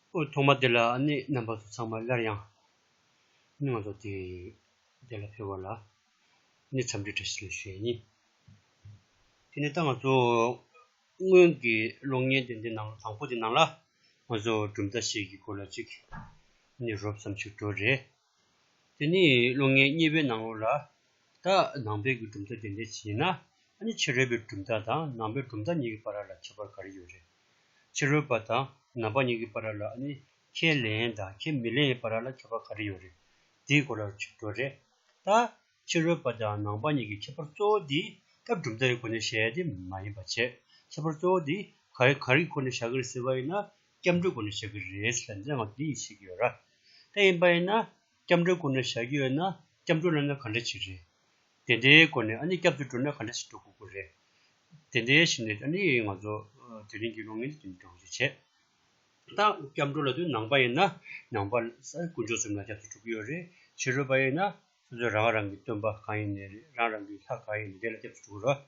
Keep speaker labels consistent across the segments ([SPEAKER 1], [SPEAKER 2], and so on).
[SPEAKER 1] དབུས་ཐོག་མ་དེ་ལ་གནས་རྣམ་པ་ཚོ་ཚང་མ་སླར་ཡང་སྙིང་ལ་བཟོ་སྟེ། དེ་ལ་ཕེབས་བ་ལ་ནི་འཚམས་འདྲི་བཀྲ་ཤིས་ཞེས་གཉིས། དེ་ནས་ད་ང་ཚོ་སྔོན་གྱི་གློག་བརྙན་དེ་འདི་ནང་དང་པོ་དེ་ནང་ལ་ང་ཚོ་གྲུབ་མཐའ་ཞིག་གི་སྐོར་ལ་ཅིག་ནི་རོབ་ཙམ་ཞིག་འགྲོ་རེ། དེ་ནས་བློ་ངན་རྙེད་པའི་སྣང་ངོར་ལ། ད་ནང་པའི་གྱི་གྲུབ་མཐའ་དེ་འདྲའི་ཕྱིན་ན། ནི་ཕྱི་རོལ་པའི་གྲུབ་མཐའ་དང་ནང་པའི་གྲུབ་མཐའ་གཉིས་ཀྱི་བར་ར་ལ་ཁྱད་པར་ག་རེ་ཡོད་རེད། ཕྱི་རོལ་པ་དང་ནང་པ་གཉིས་ཀྱི་བར་ར་ལ་ནི་ཁས་ལེན་དང་ཁས་མི་ལེན་བར་ར་ལ་ཁྱད་པར་ག་རེ་ཡོད་རེད། དེའི་སྐོར་ལ་ཆུ་བྲོ་རེད། ད་ཕྱི་རོལ་པ་དང་ནང་པ་གཉིས་ཀྱི་ཁྱད་པར་གཙོ་བོ་དེ་སྐབས་གྲུབ་མཐའ་ཡི་སྒོ་ནས་བཤད་དེ་མ་ཡིན་པ་བྱས། ཁྱད་པར་གཙོ་བོ་དེ་ག་རེ་ག་རེ་ཁོ་ནས་བཞག་གི་རེད་ཟེར་བ་ཡིན་ན་སྐྱབས་འགྲོ་དགོན་ནས་བཞག་གི་རེད་ཟེར་མཛད་དབང་འདི་ཡིན་ཟེར་གྱི་ཡོད་ར། ད་ཡིན་པ་ཡིན་ན་སྐྱབས་འགྲོའི་དགོན་ནས་བཞག་གི་ཡོད་ན་སྐྱབས་འགྲོ་བླ་ན་ག་འདྲ་བྱེད་རེད། དེ་འདྲའི་སྒོ་ནས་ཨ་ནི་སྐྱབས་འདི་འགྲོ་ན་ག་འདྲ་ཞིག་འགྲོ་དགོས་ཀྱི་རེད། དེ་འདྲའི་ཞིག་ནས་ཨ་ནི་ང་ཚོ་དེ་རིང་གི་ལོ་ངན་འདི་འདི་འགྲོ་གི་རེད། ད་སྐྱབས་འགྲོ་ལ་དུ་ནང་པ་ཡིན་ན་ནང་པ་དཀོན་མཆོག་གསུམ་ལ་སྐྱབས་འདི་འགྲོ་གི་ཡོད་རེད། ཕྱི་རོལ་པ་ཡིན་ན་ཁྱོད་ཚོས་རང་རང་གི་སྟོན་པ་གང་ཡིན་ནས་རེད་རང་རང་གི་ལྷ་གང་ཡིན་ནས་དེ་ལ་སྐྱབས་སུ་འགྲོ་དགོས་རེད།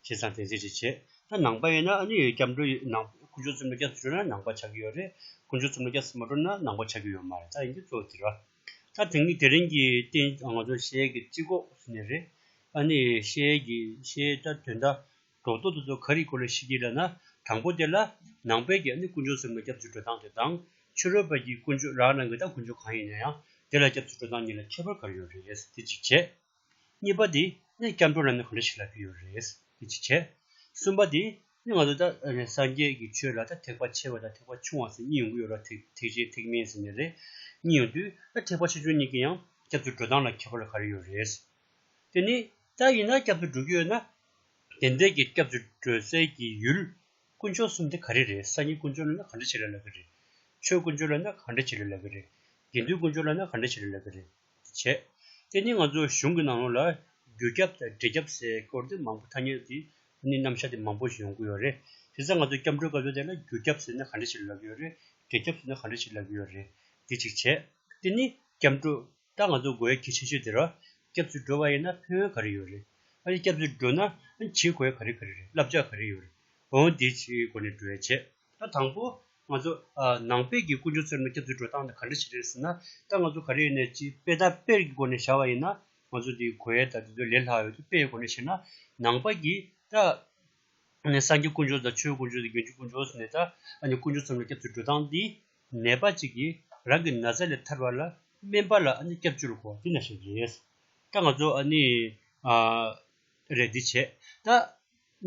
[SPEAKER 1] བྱས་ཙང་དེ་ཚིག་རེ་བྱས་ད་ནང་པ་ཡིན་ན་ཨ་ནི་སྐྱབས་འགྲོ་ཡིན་ནང་དཀོན་མཆོག་རྩིབ་ལ་སྐྱབས་སུ་འགྲོ་ན་ནང་པ་ཆགས་ཀྱི་ཡོད་རེད་དཀོན་མཆོག་རྩིབ་ལ་སྐྱབས་སུ་མ་འགྲོ་ན་ནང་པ་ཆགས་ཀྱི་ཡོད་མ་རེད་ད་ཡིན་གྱི་གཙོ་བོ་དེ་རེད། ད་དེང་གི་དེ་རིང་གི་རྟེན་ང་ཚོ་ཤེལ་གྱི་རྩིག་གོག་ནས་རེད་ཨ་ནི་ཤེལ་གྱི་ཤེལ་ད་དོན་དག་སྒྲོ་འདོགས་དེ་ཚོ་ག་རེས་གོ་ལ་ཤེས་ཀྱི་རེད་ན་དང་པོ་དེ་ལ། ནང་པའི་རྒྱ་ནི་དཀོན་མཆོག་ཟེར་མ་སྐྱབས་བཅོལ་འགྲོ་སྟངས་དེ་དང། ཕྱི་རོལ་པ་རྒྱའི་དཀོན་མཆོག་རག་ན་འགའ་ད་དཀོན་མཆོག་གང་ཡིན་ན་ཡང་དེ་ལ་སྐྱབས་བཅོལ་འགྲོ་སྟངས་གཉིས་ལ་ཁྱད་པར་ག་རེ་ཡོད་རེད་དེ་གཅིག་བྱས། གཉིས་པ་དེ་ནས་སྐྱབས་འགྲོ་ལབ་ན་ག་འདྲ་ཞིག་ལབ་ཀྱི་ཡོད་རེད་དེ་གཅིག་བྱས། གསུམ་པ་དེ་ནས་ང་ཚོ་ད་སངས་རྒྱས་ཀྱི་ཆོས་ལ་ད་ཐེག་པ་ཆེ་བ་དང་ཐེག་པ་ཆུང་བ་ཟེར་གཉིས་ཡོང་གི་ཡོད་ར་ཐེག་ཐེག་ཆེ་ཐེག་དམན་ཟེར་ནི་རེད་གཉིས་ཡོང་དུས་ད་ཐེག་པ་ཆེ་ཆུང་གཉིས་ཀྱི་ཡང་སྐྱབས་བཅོལ་འགྲོ་སྟངས་ལ་ཁྱད་པར་ག་རེ་ཡོད་རེད། དེ་ནི་ད་ཡིན་ན་སྐྱབས་བཅོལ་འགྲོ་གི་ཡོད་ན་བདེན་བདེན་གྱི་སྐྱབས་བཅོལ་སྒྲོལ་རྩལ་གྱི་ཡུལ། དཀོན་མཆོག་གསུམ་དེ་ག་རེ་རེད་ས་སྙིང་དཀོན་མཆོག་ལ་ན་ག་འདྲ་བྱེད་ལ་ལ་གི་རེད། ཆོས་དཀོན་མཆོག་ལ་ན་ག་འདྲ་བྱེད་ལ་ལ་གི་རེད། དགེ་འདུན་དཀོན་མཆོག་ལ་ན་ག་འདྲ་བྱེད་ལ་ལ་གི་རེད། དེ་བྱས། དེ་ནི་ང་ཚོ་གཞུང་གི་ནང་ལོགས་ལ་རྒྱུ་སྐྱབས་དང་འབྲས་སྐྱབས་སའི་སྐོར་དེ་མང་པོ་ཐ་སྙད་དེ་ནི་རྣམ་བཞག་དེ་མང་པོ་ཞིག་ཡོང་གི་ཡོད་རེད། དེ་ཚ་ང་ཚོ་སྐྱབས་འགྲོའི་སྐབས་སོ་དེ་ལ་རྒྱུ་སྐྱབས་ཟེར་ན་ག་འདྲ་བྱེད་ལ་ལ་གི་ཡོད་རེད། འབྲས་སྐྱབས་ཟེར་ན་ག་འདྲ་བྱེད་ལ་ལ་གི་ཡོད་རེད། དེ་གཅིག་བྱས། དེ་ནི་སྐྱབས་འགྲོ། ད་ང་ཚོ་དགོས་གལ་ཆེ་ཤོས་དེ་ར་སྐྱབས་བཅོལ་འགྲོ་བ་ཡིན་ན་ཕན་ཡོན་ག་རེ་ཡོད་རེད་ཨ་རེ་སྐྱབས་བཅོལ་འགྲོ་ན་བྱེད་དགོས་ག་རེ་ག་རེ་རེད་བསླབ་བྱ་ག་རེ་ཡོད་རེད་བོང་དེའི་སྒོ་ནས་བགྲོད་བྱེད་ད་དང་པོ་ང་ཚོ་ནང་པས་ཀྱི་དཀོན་མཆོག་ཚོའི་ནང་སྐྱབས་བཅོལ་འགྲོ་སྟངས་དེ་ག་འདྲ་ཞིག་རེད་ཟེར་ན་ད་ང་ཚོ་ག་རེ་ཡིན་ནས་ཅི་དཔེ་དང་དཔེར་གྱི་སྒོ་ནས་བྱ་བ་ཡིན་ན་ང་ཚོ་དེ་གོ་ཡས་ད་དེ་ཚོ་ལས་ལྷག་ཡོད་དེ་དཔེ་ཡི་སྒོ་ནས་བྱེད་ན་ནང་པ་ཀྱི་ད་ནས་སངས་རྒྱས་དཀོན་མཆོག་དང་ཆོས་དཀོན་མཆོག་དང་རྒྱུན་སྤྱོད་དཀོན་མཆོག་ཟེར་ནས་ད་ནས་དཀོན་མཆོག་ཚོའི་ནང་སྐྱབས་བཅོལ་འགྲོ་སྟངས་འདི་ནད་པ་ཅིག་གིས་རང་གི་ན་ཚ་ལས་ཐར་བ་ལ་སྨན་པ་ལ་ཨ་ནི་སྐྱབས་བཅོལ་དགོས་པ་དེ་ན་ཞིག་རེད། ད་ང་ཚོ་ཨ་ནི་རེད་འདི་བྱས་ད་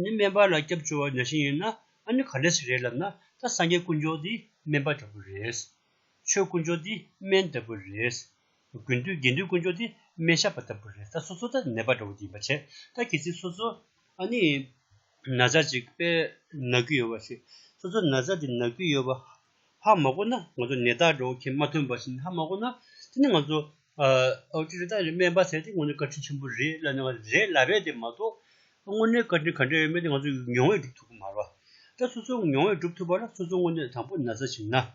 [SPEAKER 1] ནི་སྨན་པ་ལ་སྐྱབས་བཅོལ་བ་ན་ཞིག་ཡིན་ན་ཨ་ནི་ག་ལས་ཞིག་རེད་ལབ་ན་ད་སངས་རྒྱས་དཀོན་མཆོག་འདི་སྨན་པ་ལྟ་བུ་རེད། ཆོས་དཀོན་མཆོག་འདི་སྨན་ལྟ་བུ་རེད། དགུན་དུས་དགེ་འདུན་དཀོན་མཆོག་འདི་སྨན་ཞབས་པ་ལྟ་བུ་རེད་ད་སོ་སོ་ད་ནད་པ་འདྲ་བོ་འདི་ཡིན་པ་བྱས་ད་གལ་སྲིད་སོ་སོ་ཨ་ནི་ན་བཟའ་གཅིག་དཔེར་ན་རྒྱུས་ཡོད་པ་ཞིག་སོ་སོ་ན་བཟའ་དེ་ན་རྒྱུས་ཡོད་པ་ཧ་མ་གོ་ན་ང་ཚོ་ནད་བདག་འགྲོ་མཁན་མ་ཐོན་པ་ཞིག་ཧ་མ་གོ་ན་དེ་ནི་ང་ཚོ་ཨོ་ཀྲི་རི་ཏཱ་ལའི་སྨན་པ་ཟེར་དེ་དངོས་གནས་བཀའ་དྲིན་ཆེན་པོ་རེད་ལབ་ནས་ང་ཚོ་རེད་ལ་རེད་དེ་མ་གཏོགས་དངོས་གནས་བཀའ་དྲིན་ག་འདྲ་ཡོད་མེད་དེ་ང་ཚོ་མྱོང་བས་སྒྲུབ་ཐུབ་གི་མ་རེད། ད་སོ་སོ་མྱོང་བས་སྒྲུབ་ཐུབ་པ་ལ་སོ་སོ་དངོས་གནས་དང་པོ་ན་བཟའ་བྱིན་ན།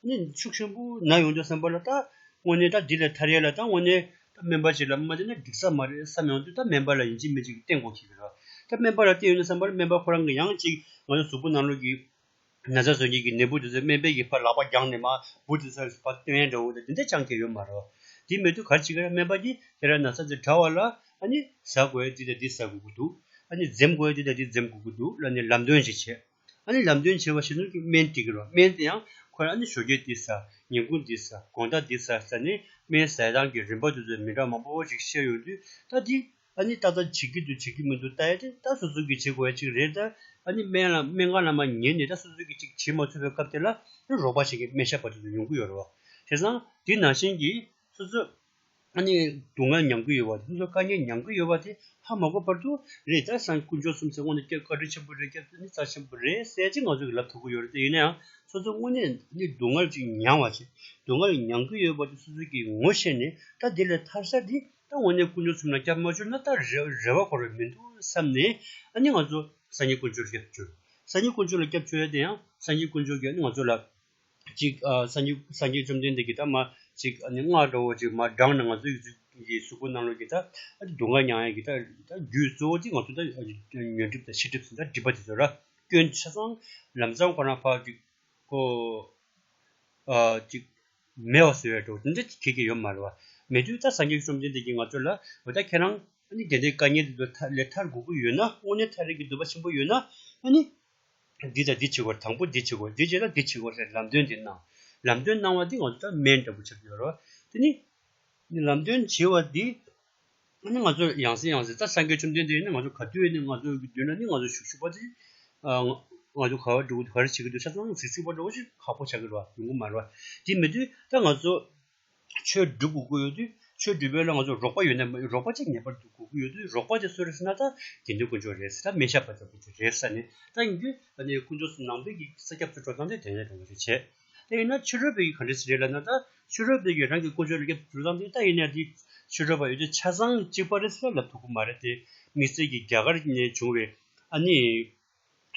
[SPEAKER 1] ནི་ཕྱུགས་ཆེན་པོ་ན་ཡོང་དུས་སེམས་པ་ལ་ད་དངོས་གནས་ད་འདི་ལས་ཐར་ཡས་ལ་ད་དངོས་གནས་ད་སྨན་པ་ཅིག་ལ་མ་བསྟེན་ན་འགྲིག་ས་མ་རེད་བསམ་ཡོང་དུས་ད་སྨན་པ་ལ་ཡིན་གཅིག་མིན་གཅིག་བསྟེན་དགོས་ཁེལ་གི་རེད། ད་སྨན་པ་ལ་བསྟེན་ཡོང་དུས་བསམ་པར་སྨན་པ་ཁོ་རང་གིས་ཡང་གཅིག་ང་ཚོ་གཟུགས་པོ་ནང་ལུས་ཀྱི་ན་ཚ་བཟོད་ཀྱིན་གྱི་ནད་འབུ་དེ་ཚོས་སྨན་པའི་ཡི་ཕ་ལག་པ་བརྒྱངས་ནས་མ་འབུ་དེ་ཚོ་ལ་བ་སྟོན་ཡས་འདྲ་བོ་དེ་འདི་འདྲ་བཅངས་ཁེལ་ཡོད་མ་རེད། དེ་མེད་དུས་ག་ཅིག་ར་སྨན་པ་གྱིས་དེ་ར་ན་ཚ་འདི་དྲ་བ་ལ་ཨ་ནི་ཟ་དགོས་འདི་དང་འདི་ཟ་དགོས་ཀྱི་འདུག་ཨ་ནི་འཛེམ་དགོས་འདི་དང་འདི་འཛེམ་དགོས་ཀྱི་འདུག་ལ་ནི་ལམ་སྟོན་ཅིག་བྱེད། ཨ་ནི་ལམ་སྟོན་བྱེད་པ་ཞིག་ནོར་གྱི་སྨན་སྤྲི་གི་རོ་སྨན་དེ་ཡང་ཁོ་རང་ཨ་ནི་ཞོ་རྒྱལ་འདི་ཟ་ཉིན་གུང་འདི་ཟ་དགོང་ཟླ་འདི་ཟ་ཟེར་ནས་སྨན་ཟས་སྟངས་ཀྱི་རིམ་པ་དེ་ཚོ་མི་འདྲ་མང་པོ་བོ་ཞིག་བཤད་ཡོང་དུས་ད་དེ་ཨ་ནི་ཏག་ཏག་བྱེད་ཀྱི་འདུག་བྱེད་ཀྱི་མི་འདུག་ད་ཡ་དེ་ད་སོ་སོ་གིས་བྱེད་དགོས་ཡ་ཅིག་རེད་ད་ཨ་ནི་སྨན་ལ་སྨན་གང་ལ་མ་ཉན་ནས་ད་སོ་སོ་གིས་ཅིག་བྱེད་མ་ཚུད་པའི་སྐབས་དེ་ལ་ཨ་ནི་རོགས་པ་ཞིག་གིས་སྨན་ཞབས་པ་དེ་ཚོ་ཡོང་གི་ཡོད་རེད་བ། བྱས་ཙང་དེ་ནང་བཞིན་གྱི་སོ་སོ་ཨ་ནི་སྡུག་བསྔལ་མྱང་གི་ཡོད་པ་སོ་སོ་དཀའ་ཉེན་མྱང་གི་ཡོད་པ་དེ་ཧ་མ་གོ་བར་དུ་རེད་ད་སང་དཀོན་མཆོག་གསུམ་ཚེ་དངོས་ནས་སྐྱབས་བཀའ་དྲིན་ཆེན་པོ་རེད་སྐྱབས་བསྟོད་ནི་རྩ་ཆེན་པོ་རེད་གསལ་བྱེད་ང་ཚོ་གི་ལབ་ཐུབ་ཀི་ཡོད་རེད་ད་ཡིན་ན་ཡང་སོ་སོ་དངོས་ནས་ནི་སྡུག་བསྔལ་ཅིག་མྱང་བ་ཅིག་སྡུག་བསྔལ་མྱང་གི་ཡོད་པ་དེ་སོ་སོ་གིས་ངོ་ཤེས་ནས་ད་དེ་ལས་ཐར་ས་དེ་ད་དངོས་ནས་དཀོན་མཆོག་གསུམ་ལ་སྐྱབས་མ་བཅོལ་ན་ད་རེ་བ་འཁོར་བའི་མི་འདུག་བསམ་ནས་ཨ་ནི་ང་ཚོ་སང་ཉིན་དཀོན་མཆོག་ལ་སྐྱབས་བཅོལ་སང་ཉིན་དཀོན་མཆོག་ལ་སྐྱབས་བཅོལ་ཡ་དེ་ཡང་སང་ཉིན་དཀོན་མཆོག་གིས་ཨ་ནི་ང་ཚོ་ལ་ཅིག། སངས་རྒྱས་བཅོམ་ལྡན་འདས་ཀྱིས་ད་མ་ཅིག། སྔགས་ཀྱི་འོག་ཅིག་མ་སྦྲང་ནི་ང་ཚོའི་ཡུལ་དུས་ཀྱི་གཟུགས་སྐུ་རྣམས་ལོ་ཀྱི་ད་སྡུག་བསྔལ་མྱང་ཡང་གི་ད་རྒྱུའི་གཙོ་བོ་ཅིག་ང་ཚོ་ད་ཉོན་སྒྲིབ་དང་ཕྱི་སྒྲིབ་ཟིན་ད་སྒྲིབ་པ་དེ་ཚོ་ར་སྐྱོན་ཆ་ཚང་ལམ་བཟང་ཁོ་ན་འཕགས་ཅིག། ཧོ། ཅིག། མེད་བ་ཟེར་བའི་གྲོགས་འདི་འདྲ་ཁྱེད་ཀྱི་ཡོད་མ་རེད་བ། མེད་དུས་ད་སངས་རྒྱས་བཅོམ་ལྡན་འདས་ཀྱིས་ང་ཚོ་ལ་འོ་ད་ཁྱེད་རང་དེ་འདྲའི་དཀའ་ངལ་དེ་ཚོ་ལས་ཐར་དགོས་ཀྱི་ཡོད་ན་དངོས་གནས་ཐར་རེག་གི་འདོད་པ་ཆེན་པོ་ཡོད་ན། འདི་དང་འདི་བྱེད་དགོས་དང་པོ་འདི་བྱེད་དགོས་འདི་བྱས་ན་འདི་བྱེད་དགོས་ལམ་སྟོན་འདི་གནང། ལམ་སྟོན་གནང་བ་འདི་ང་ཚོ་ལྟར་སྨན་འདྲ་པོ་བྱ་རྒྱུ་ཡོད་རེད། དེ་ནི་ལམ་སྟོན་བྱས་བ་འདི་ནི་ང་ཚོ་ཡང་ཟེར་ཡང་ཟེར་ད་སངས་རྒྱས་བཅོམ་ལྡན་འདས་ནི་ང་ཚོ་ག་དུས་ནས་ང་ཚོ་གི་མདུན་ན་ནི་ང་ཚོ་བཞུགས་བཞུགས་པ་དེ་ང་ཚོ་ག་བ་འགྲོ་གི་འདུག་ག་རེ་བྱེད་ཀྱི་འདུག་ཆ་ཚང་ཚིག་ཚིག་པར་འགྲོ་གཞི་ཁག་པོ་བྱ་གི་རེད་བ་ཡོང་གི་མ་རེད་བ། དེ་མེད་དུས་ད་ང་ཚོ་ཆོས་སྒྲུབ་དགོས་ཀྱི་ཡོད་དུས་ཆོས་སྒྲུབ་པའི་ལ་ང་ཚོ་རོགས་པ་ཡོད་ན་རོགས་པ་ཅིག་ངེས་པར་དུ་དགོས་ཀྱི་ཡོད་དུས་རོགས་པ་དེ་གསོལ་རེ་ཟེར་ན་ད་དགེ་འདུན་དཀོན་མཆོག་རེད་ཟེར་ད་སྨན་ཞབས་པ་ལྟ་བུ་དེ་རེད་ཟེར་ནས་ད་ཡིན་དུས་ད་ནི་དཀོན་མཆོག་ནང་པའི་གི་ས་སྐྱབས་སུ་འགྲོ་སྟངས་དེ་དེ་འདྲ་རེད་བྱས། དེ་ཡིན་ན་ཕྱི་རོལ་པའི་གི་ག་འདྲ་ཞིག་རེད་ལབ་ན་ད་ཕྱི་རོལ་པའི་གི་རང་གི་དཀོན་མཆོག་ལ་སྐྱབས་སུ་འགྲོ་སྟངས་དེ་ད་ཡིན་ན་དེ་ཕྱི་རོལ་པ་ཡོད་དུས་ཆ་ཚང་གཅིག་པ་རེད་ཟེར་ན་ལབ་ཐུབ་ཀྱི་མ་རེད་དེ་དམིགས་བསལ་གྱི་རྒྱ་གར་ནས་བྱུང་བའི་ཨ་ནི།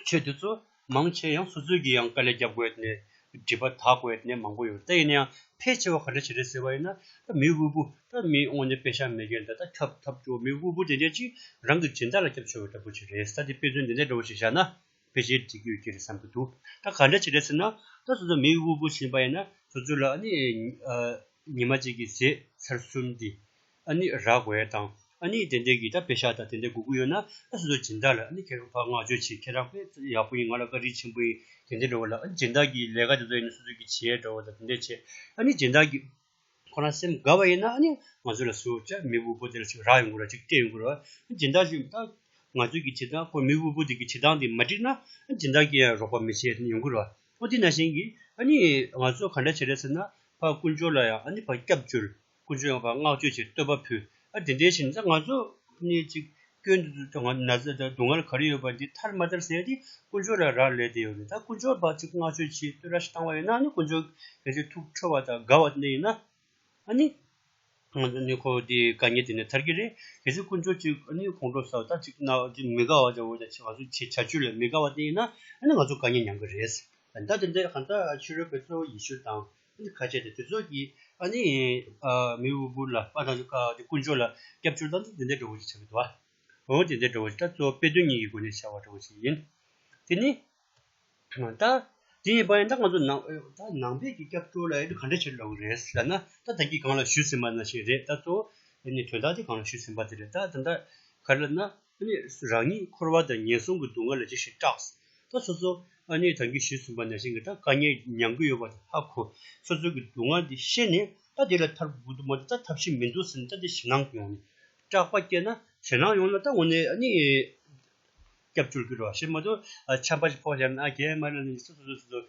[SPEAKER 1] ཆོས་དེ་ཚོ་མང་ཆེ་ཡང་སོ་སོའི་གི་ཡང་དཀའ་ལས་རྒྱབ་དགོས་ནས་སྒྲིབ་པ་དག་དགོས་ནས་མང་པོ་ཡོད་ད་ཡིན་ན་ཡང་ཕལ་ཆེ་བ་ག་འདྲ་བྱེད་རེད་ཟེར་བ་ཡིན་ན་ད་མི་དབུལ་པོ་ད་མི་དངོས་ནས་དཔེ་ཆ་མེད་མཁན་དག་ད་ཁྱབ་ཐབས་བྲོ་མི་དབུལ་པོ་དེ་འདྲས་ཀྱིས་རང་གི་སྦྱིན་བདག་ལ་སྐྱབས་བྱོས་བ་འདྲ་པོ་ཞིག་རེད་ས་དེ་དཔེ་མཚོན་འདི་འདྲས་འདྲ་བོ་ཞིག་བཞག་ན་ཕལ་ཆེ་འགྲིག་གི་ཡོད་ཀྱི་རེད་བསམ་གྱི་འདུག་ད་ག་འདྲ་བྱེད་རེད་ཟེར་ན་ད་སོ་སོ་མི་དབུལ་པོ་ཟིན་པ་ཡིན་ན་སོ་སོ་ལ་ཨ་ནི་ཉི་མ་གཅིག་གི་ཟས་ཚར་གསུམ་དེ་ཨ་ནི་རག་བའི་དང་ཨ་ནི་དེ་འདྲའི་གི་ད་བེ་ཤ་ད་དེ་འདྲའི་གུ་གུ་ཡོད་ན་ཨ་སུ་དོ་སྦྱིན་བདག་ལ་ཨ་ནི་ཁེར་ཕག་བསྔགས་བརྗོད་བྱེད་ཁེར་རག་པས་ཡག་པོ་ཡིན་ང་ལ་དཀའ་དྲིན་ཆེན་པོ་ཡིན་དེ་འདྲའི་འགྲོ་བ་ལ་ཨ་ནི་སྦྱིན་བདག་གིས་ལས་ཀ་དེ་ཚོ་ཡིན་ན་སུ་སུ་གི་བྱེད་འགྲོ་བ་ད་དེ་འདྲས་བྱེད་ཨ་ནི་སྦྱིན་བདག་གིས་ཁོ་རང་སེམས་དགའ་བ་ཡིན་ན་ཨ་ནི་ང་ཚོ་ལ་སུ་ཅར་མི་དབུལ་པོ་དེ་ལ་ཅིག་རག་ཡོང་དགོས་ར་ཅིག་སྤྲད་ཡོང་དགོས་ར་ཨ་ནི་སྦྱིན་བདག་གིས་ད་ང་ཚོའི་གི་བྱེད་སྟངས་ཁོ་མི་དབུལ་པོ་དེ་གི་བྱེད་སྟངས་དེ་མ་འགྲིག་ན་ཨ་ནི་སྦྱིན་བདག་གིས་ཡང་རོགས་པ་མི་བྱེད་ཡོང་དགོས་ར་ཨོ་དེ་ན་བཞིན་གི་ཨ་ནི་ང་ཚོ་ག་འདྲ་བྱེད་ར་ཟེར་ན་ཕ་ཀུན་སྤྱོད་ལ་ཡང་ཨ་ནི་ཕ་སྐྱབས་བཅོལ་ཀུན་སྤྱོད་ཡོངས་ལ་བསྔགས་བརྗོད་ཀྱི་བསྟོད་པ་ཕུལ། ཨ་དེ་འདྲའི་ཕྱིར་ན་ང་ཚོ་གཉིས་ཅིག་སྐྱོན་དུ་ད་ང་ན་ཚ་དང་སྡུག་བསྔལ་ག་རེ་ཡོད་པ་འདི་ཐར་མ་ཐར་ཟེར་ཏེ་ཀུན་སྤྱོད་ལ་རག་ལས་དེ་ཡོད་རེད་ད་ཀུན་སྤྱོད་པ་ཅིག་བསྔགས་བརྗོད་ཀྱི་བསྟོད་ར་ཞིག་བཏང་བ་ཡིན་ན་ནི་ཀུན་སྤྱོད་གལ་ཆེ་ཐུགས་ཁྲོ་བ་དང་དགའ་བ་གནས་ཡིན་ན་ནི། ང་ཚོ་གཉིས་ཁོ་དེའི་དགའ་ཉེ་དེ་ནས་ཐར་གྱི་རེད་གལ་སྲིད་ཀུན་སྤྱོད་ཅིག་ནི་ཁོང་ཁྲོ་ཟ་བ་དག་ཅིག་ན་ཅིག་མི་དགའ་བ་དང་འོན་ཀྱང་ང་ཚོ་བྱེད་བྱ་སྤྱོད་ལ་མི་དགའ་བ་གནས་ཡིན་ན་ནི་ང་ཚོ་དགའ་ཉེ་མྱང་གི་རེད། ད་དེ་འདྲའི་གང་ཟག་ཕྱི་རོལ་པའི་གཙོ་བོ་ཡེ་ཤུ་དང་ཁ་ཆད་དེ་དུས་ཚོད་ཀྱིས་ཨ་ནི་མི་དབུལ་པོ་ལ་དཔའ་དང་ཀུན་སྤྱོད་ལ་སྐྱབས་བཅོལ་བཏང་ཚུལ་དེ་འདྲའི་འགྲོ་འོང་ཅིག་བྱ་དགོས་དོ། འོན་ཀྱང་དེ་འདྲ་བོ་ཞིག་ད་གཙོ་བོ་དཔེ་དོན་གཉིས་ཀྱི་སྒོ་ནས་བྱ་བ་འདྲ་བོ་ཞིག་ཡིན། དེ་ནི། ད། དེ་ཡིན་པ་ཡིན་ད་ང་ཚོ་ནང་ནང་པའི་གི་སྐྱབས་བཅོལ་ལ་ཡོད་དུས་ག་འདྲ་བྱེད་ཀྱི་ལོག་གི་རེད་ཟེར་ན་ད་ད་གིས་གང་ལ་ཞུས་ཟིན་པ་ན་ཞིག་རེད་ད་གཙོ་བོ་ནི་དོན་དག་དེ་གང་ལ་ཞུས་ཟིན་པ་དེ་རེད་ད་ད་ལྟ་ག་རེ་ལབ་ན་ཨ་ནི་རང་ཉིད་འཁོར་བ་དང་ངན་སོང་གི་སྡུག་བསྔལ་ལ་ཅི་ཞིག་སྐྲགས། ད་སོ་སོ་ཨ་ནི་དང་རྒྱུ་བྱིས་གསུམ་པ་ན་བཞིན་གྱི་ད་དཀའ་ངལ་མྱང་གི་ཡོད་པ་དང་ཧ་གོ། སོ་སོ་གི་སྡུག་བསྔལ་འདི་ཤེས་ནས་ད་དེ་ལ་ཐར་དགོས་ཀྱི་མ་འདུག་ད་ཐབས་ཤེས་མི་འདུག་ཟེར་ནས་ད་འདི་ཞེད་སྣང་གི་ངང་ནས་སྐྲག་པ་སྐྱེས་ན། ཞེད་སྣང་ཡོང་ན་ད་ངོ་ནས་ཨ་ནི་སྐྱབས་བཅོལ་གྱི་རོ་ཞེས་མ་གཏོགས་ཆམ་པ་ཞིག་ཕོག་བྱས་ན་ཨ་རྒྱའི་མ་ལ་ནི་སོ་སོ་སོ་སོ་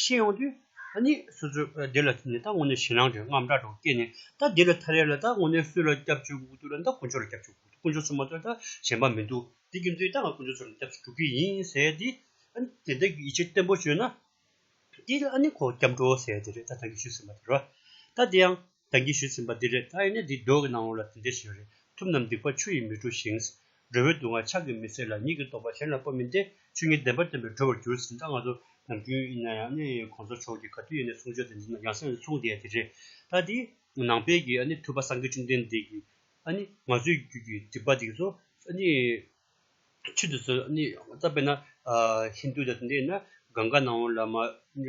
[SPEAKER 1] ཤེས་ཡོང་དུས། ཨ་ནི་སོ་སོས་འདི་ལ་ཐུག་ནས་ད་ངོ་ནས་ཞེད་སྣང་དྲོད་རྔམ་དྲག་དྲག་སྐྱེས་ནས་ད་འདི་ལ་ཐ་རེ་ལ་ད་ངོ་ནས་སུ་ལ་སྐྱབས་བཅོལ་དགོས་ཀྱི་འདུག་ལ་ད་དཀོན་མཆོག་ལ་སྐྱབས་བཅོལ་དགོས་ཀྱི་འདུག་དཀོན་མཆོག་ཚོ་མ་གཏོགས་ད་གཞན་པ་མི་འདུག་དེ་རྒྱུ་མཚན་ད་ང་དཀོན་མཆོག་ཚོ་ལ་སྐྱབས་སུ་འགྲོ་གི་ཡིན་ཟེར་དེ། ཨ་ནི་དེ་འདྲ་གི་ཡིད་ཆེས་བརྟན་པོ་བྱོས་ན། དེ་ཨ་ནི་ཁོ་སྐྱབས་འགྲོ་ཟེར་དེ་རེད་ད་ད་གིས་ཞུས་ཟིན་པ་དེ་རེད། ད་དེ་ཡང། བདག་གིས་ཞུས་ཟིན་པ་འདི་རེད་ད་ཡིན་ན་འདི་སྒྲོག་གི་ནང་འོང་ལ་དེ་འདྲས་ཞིག་རེད་ཐུབ་ནམ་སྡིག་པ་ཆུ་ཡིས་མི་བཀྲུ་ཞིང། སྒྲོལ་བའི་སྡུག་བསྔལ་ཕྱག་གིས་མི་བསལ་ལ་ཉིད་ཀྱི་རྟོགས་པ་གཞན་ལ་སྤོ་མི་འདེ་ཆུ་གཉིས་ལྡན་པར་བསྟན་པས་གྲོལ་བར་འགྱུར་ཟིན་ད་ང་ཚོ་ནམ་རྒྱུན་ཡིན་ན་ཡང་ནི་གོང་ས་མཆོག་གིས་ག་དུས་ཡིན་ནས་གསུང་ཆོས་དེ་འདི་ན་ཡང་སེམས་ལ་མཚུངས་བསྡད་དེ་རེད་ད་དེ། ནང་པའི་གི་ཨ་ནི་ཐུབ་པ་སངས་རྒྱས་བཅོམ་ལྡན་འདས་ཀྱིས་ཨ་ནི་ང་ཚོའི་རྒྱུད་ཀྱི་སྡིག་པ་འདི་ཚོ་ཨ་ནི་ཆུ་འདི་ཚོ་ཨ་ནི་བཏབ་པས་ན་ཧིན་དུ་དང་དེ་འདྲས་ཡིན་ན་གངྒཱ་ནང་འོང་ལ་མ།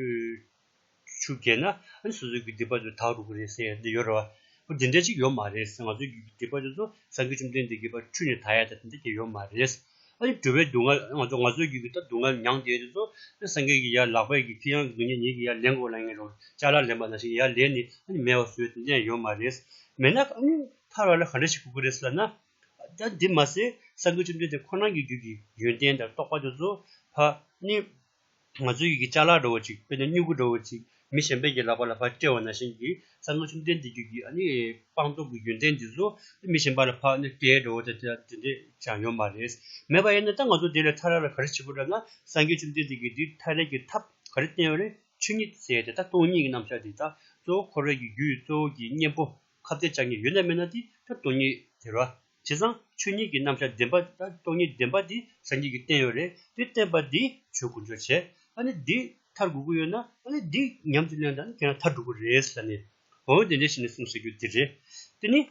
[SPEAKER 1] ཆུ་རྒྱས་ན་ཨ་སོ་སོའི་རྒྱུད་སྡེ་པ་ཚོས་དྭགས་རུ་གུ་རེད་ཟེར་ཡ་འདི་ཡོད་རེད་བ། འོ་དེ་འདྲ་ཅིག་ཡོད་མ་རེད་ཟེར་ང་ཚོའི་རྒྱུད་སྡེ་པ་ཚོས་ཚོ་སངས་རྒྱས་བཅོམ་ལྡན་འདས་དགེ་བར་འཁྲུལ་ནས་དྭགས་ཡ་ད་དེ་འདྲ་ཅིག་ཡོད་མ་རེད། ཨ་ནི་དྲོ་བའི་སྡུག་བསྔལ་ང་ཚོ་ང་ཚོའི་རྒྱུད་ཀྱི་ད་སྡུག་བསྔལ་མྱངས་བསྡད་དེ་ཚོ་ཨ་སངས་རྒྱས་ཀྱི་ཡ་ལག་པས་ཀྱི་ཁྱི་ཡང་སྡུག་ཉེས་ཉེས་ཀྱི་ཡ་ལན་དགོས་ལ་ངན་རུང་ལྕགས་ལ་ལེན་པ་ནང་བཞིན་གྱི་ཡ་ལན་ནི་ཨ་ནི་མེད་བ་བཟོས་དེ་འདྲ་ཡང་ཡོད་མ་རེད། མེད་ན་ཨ་ནི་ཐར་བ་ལ་ག་འདྲ་ཞིག་ཁུག་གི་རེད་ཟེར་ན། ད་འདི་མ་ཟད་སངས་རྒྱས་བཅོམ་ལྡན་འདས་ཁོ་རང་གི་རྒྱུད་ཀྱི་ཡོན་ཏན་དང་རྟོགས་པ་དེ་ཚོ་ཕ་ནི། ང་ཚོའི་ཡིད་ཀྱི་ལྕགས་ལ་འགྲོ་བ་ཅིག་དཔེར་ན་སྨྱུ་གུ་འགྲོ་བ་ཅིག་མི་གཞན་པའི་ཡིད་ལ་བར་ལ་བར་སྤྲད་བ་ན་གཞན་གྱིས་བསམ་བློ་ཆུང་ལྡན་འདི་རྒྱུད་ཀྱི་སྤངས་རྟོགས་ཀྱི་ཡོན་ཏན་འདི་ཚོ་མི་གཞན་པ་ལ་ཕ་ནི་སྐྲའི་སྒྲོ་བོ་དེ་འདྲས་ཀྱང་ཡོད་མ་རེད། མེད་པ་ཡིན་ན་ད་ང་ཚོ་དེ་ལས་ཐར་ར་ལ་ག་རེ་བྱེད་དགོས་བསྒྲབས་ན་སངས་རྒྱས་བཅོམ་ལྡན་འདས་ཀྱིས་འདི་ཐར་རེག་གི་ཐབས་ག་རེ་བསྟན་རེ་ཆོས་ཉིད་ཟེར་དེ་ད་སྟོང་ཉིད་ཀྱི་རྣམ་གཞག་འདི་ད་གཙོ་བོ་འཁོར་བའི་རྒྱུད་གཙོ་བོ་ཀྱི་གཉེན་པོ་ཁ་བརྡའི་ལྕགས་ཉིད་ཡོད་ན་མེད་ན་འདི་ད་སྟོང་ཉིད་ཟེར་བ་བྱས་ཙང་ཆོས་ཉིད་ཀྱི་རྣམ་གཞག་བདེན་པ་དང་སྟོང་ཉིད་བདེན་པ་འདི་ཟབ་ཉིད་ཀྱི་བསྟན་ཡོད་རེད་དེ་བསྟན་པ་འདིས་ཆོས་ཀུན་སྦྱོར་བྱེད་ཨ་ནི་འདི་མཐར་དགོས་ཀྱི་ཡོད་ན་ཨ་ནི་འདི་ཉམས་ཀྱིས་ལོན་དང་དེ་ཡང་མཐར་འགྲོ་དགོས་རེད་ཟེར་ནས་འོ་དེ་འདྲའི་ཞིག་ནས་གསུངས་ཟེར་རྒྱུ་དེ་རེད། དེ་ནི་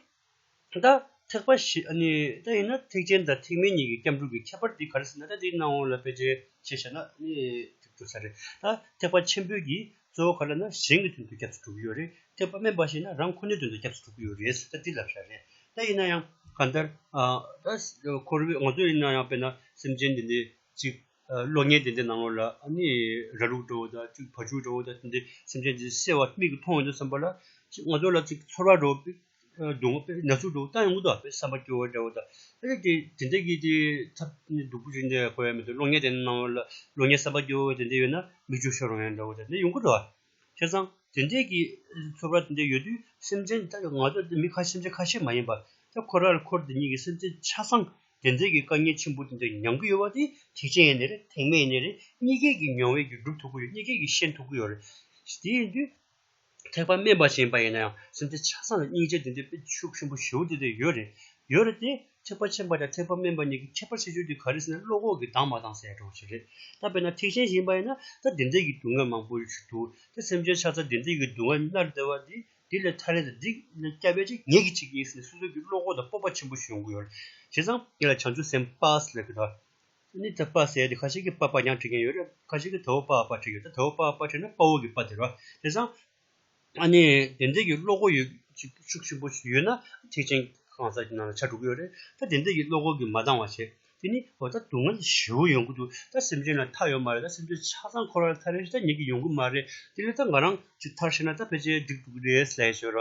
[SPEAKER 1] ད་ཐེག་པ་ཞིག་ཨ་ནི་ད་ཡིན་ན་ཐེག་ཆེན་དང་ཐེག་དམན་གཉིས་ཀྱི་སྐྱབས་འགྲོ་གི་ཁྱད་པར་འདི་ག་རེ་ཟེར་ན་ད་འདིའི་སྣང་ངོ་ལ་དཔེ་ཆའི་ཆེད་བཤད་ན་ནི་ཐུབ་ཀྱི་ས་རེད། ད་ཐེག་པ་ཆེན་པོའི་ཀྱི་གཙོ་བོ་ག་ལ་ན་གཞན་གྱི་དོན་དུ་སྐྱབས་སུ་འགྲོ་གི་ཡོད་རེད་དེ་ཕ་མས་འབའ་ཞིག་ན་རང་ཁོ་ནའི་དོན་དུ་སྐྱབས་སུ་འགྲོ་གི་ཡོད་རེད་ཟེར་ལྟ་འདི་ལབ་ཤ་རེད་ད་ཡིན་ན་ཡང་ག་མཐར་ཁོར་བའི་ང་ཚོ་ཡིན་ན་ཡང་དཔེར་ན་སེམས་ཅན་དེ་འདྲའི་ཅིག་གློ་བརྙན་དེ་འདྲའི་ནང་ངོ་ལ་ནི་ར་ལུག་འདྲ་བོ་དང་ཅིག་བ་ཕྱུགས་འདྲ་བོ་དང་དེ་འདྲའི་སེམས་ཅན་དེ་སེར་བ་མིག་གིས་མཐོང་འོང་འདུག་བསམ་པ་ལ་ང་ཚོ་ལ་ཅིག་ཚོར་བ་འགྲོ་བ་སྒྲུང་བ་པས་ན་ཚོད་དྲུག་བཏང་ཡང་དངོས་དོན་ཨ་ཕའི་བསམ་པ་སྐྱོ་བ་འདྲ་བོ་དང། ཨ་རེ་དེ་དེ་འདྲ་གི་དེ་ཐབས་སྡུག་པོ་ཞིག་འདྲ་གོ་ཡ་མི་འདུག་གློག་བརྙན་དེ་གནང་བ་ལ་གློག་བརྙན་བསམ་པ་སྐྱོ་བ་དེ་འདྲ་ཡོད་ན་མིག་ཆུ་ཤོར་རང་ཡང་འདྲ་བོ་དེ་འདྲ་ཡོང་གི་འགྲོ་བ། ཁྱེད་ཚང་དེ་འདྲས་ཀྱི་ཚོད་དཔག་དེ་འདྲས་ཡོད་དུས་སེམས་ཅན་ད་ང་ཚོ་མི་ཁ་སེམས་ཅན་ཁ་ཤས་མ་ཡིན་པ་ད་ཁོ་ར་ལ་ཁོར་དེ་གཉིས་ཀྱི་སེམས་ཅན་ཆ་ཚང་དེ་འདྲས་ཀྱི་དཀའ་ངལ་ཆེན་པོ་དེ་འདྲས་མྱང་གི་ཡོད་བ་དེ་ཐེག་ཆེན་ཡིན་ནི་རེད་ཐེག་དམན་ཡིན་ནི་རེད་གཉིས་ཀས་ཀྱི་མྱོང་བས་ཀྱི་སྒྲུབ་ཐུབ་ཀྱི་ཡོད་གཉིས་ཀས་ཀྱི་ཤེས་ཐུབ་ཀྱི་ཡོད་རེད་དེ་ཡིན་དུས། ཐེག་པ་དམན་པ་ཞིག་ཡིན་པ་ཡིན་ན་ཡང་སེམས་ཅན་ཆགས་སྡང་ལ་སྙིང་རྗེ་འདི་འདྲའི་དཔེ་ཆུ་ཆེན་པོ་ཞེའུ་འདི་འདྲ་ཡོད་རེད་ཡོད་རེད་དེ། ཐེག་པ་ཆེན་པ་དང་ཐེག་པ་དམན་པ་གཉིས་ཀྱི་ཁྱད་པར་ཤེས་ཚུལ་དེ་ག་རེ་ཟེར་ན་བློ་ཁོག་གིས་སྡང་བ་དང་ཟད་འགྲོ་བ་ཞིག་རེད་ད་དཔེར་ན་ཐེག་ཆེན་ཞིག་ཡིན་པ་ཡིན་ན་ད་དེ་འདྲའི་གི་སྡུག་བསྔལ་མང་པོ་ཞིག་འདུག་དེ་སེམས་ཅན་ཆགས་སྡང་དེ་འདྲའི་གི་སྡུག་བསྔལ་མནར་བདེ་བ་འདི་འདི་ལས་ཐར་རན་དང་འདི་ལས་སྐྱབས་པའི་ཆེད་ངེད་ཀྱི་ཆེད་ཀྱི་ཡིན་ཟེར་ནས་སོ་སོ་གི་བློ་ཁོག་དང་སྤོབས་པ་ཆེན་པོ་ཞིག་ཡོང་གི་ཡོད་རེད་བྱས་ཙང་ངེད་ལ་བྱང་ཆུབ་སེམས་དཔའ་ལ་ལས་ཀྱི་དོ་དེ་ནི་དཔ་ཟེར་ཏེ་ཁ་ཅིག་གིས་པ་པ་ཡང་བྲི་མཁན་ཡོད་རེད་ཁ་ཅིག་གིས་དོའོ་པའོ་པ་བྲི་ཡོད་དོ་དོའོ་པའོ་པ་བྲིས་ན་དཔའ་བོ་གི་པ་དེ་རོ། དེ་སང། ཨ་ནི་དེ་འདྲ་གི་བློ་སྒོ་ཡོད་ཅིག་ཤུགས་ཆེན་པོ་ཞིག་ཡོད་ན་ཐེག་ཆེན་གང་ཟག་གི་ནང་ལ་ཆ་དྲུག་ཡོད་རེད་ད་དེ་འདྲ་གི་བློ་སྒོ་གི་མ་འདང་བ་བྱེད་དེ་ནི་འོ་ད་སྡུག་བསྔལ་བཞི་བོ་ཡོང་གི་འདུག་ད་སེམས་ཅན་ལ་མཐའ་ཡོད་མ་རེད་ད་སེམས་ཅན་ཆ་ཚང་འཁོར་བ་ལ་མཐའ་རེ་ཞིག་ད་ཉིད་ཀྱི་ཡོང་གི་མ་རེད་དེ་ལས་ད་ང་རང་ཅིག་མཐར་ཤེས་ན་ད་ཕལ་ཆེར་འགྲིག་འདུག་རེད་ཟེར་ཞོར།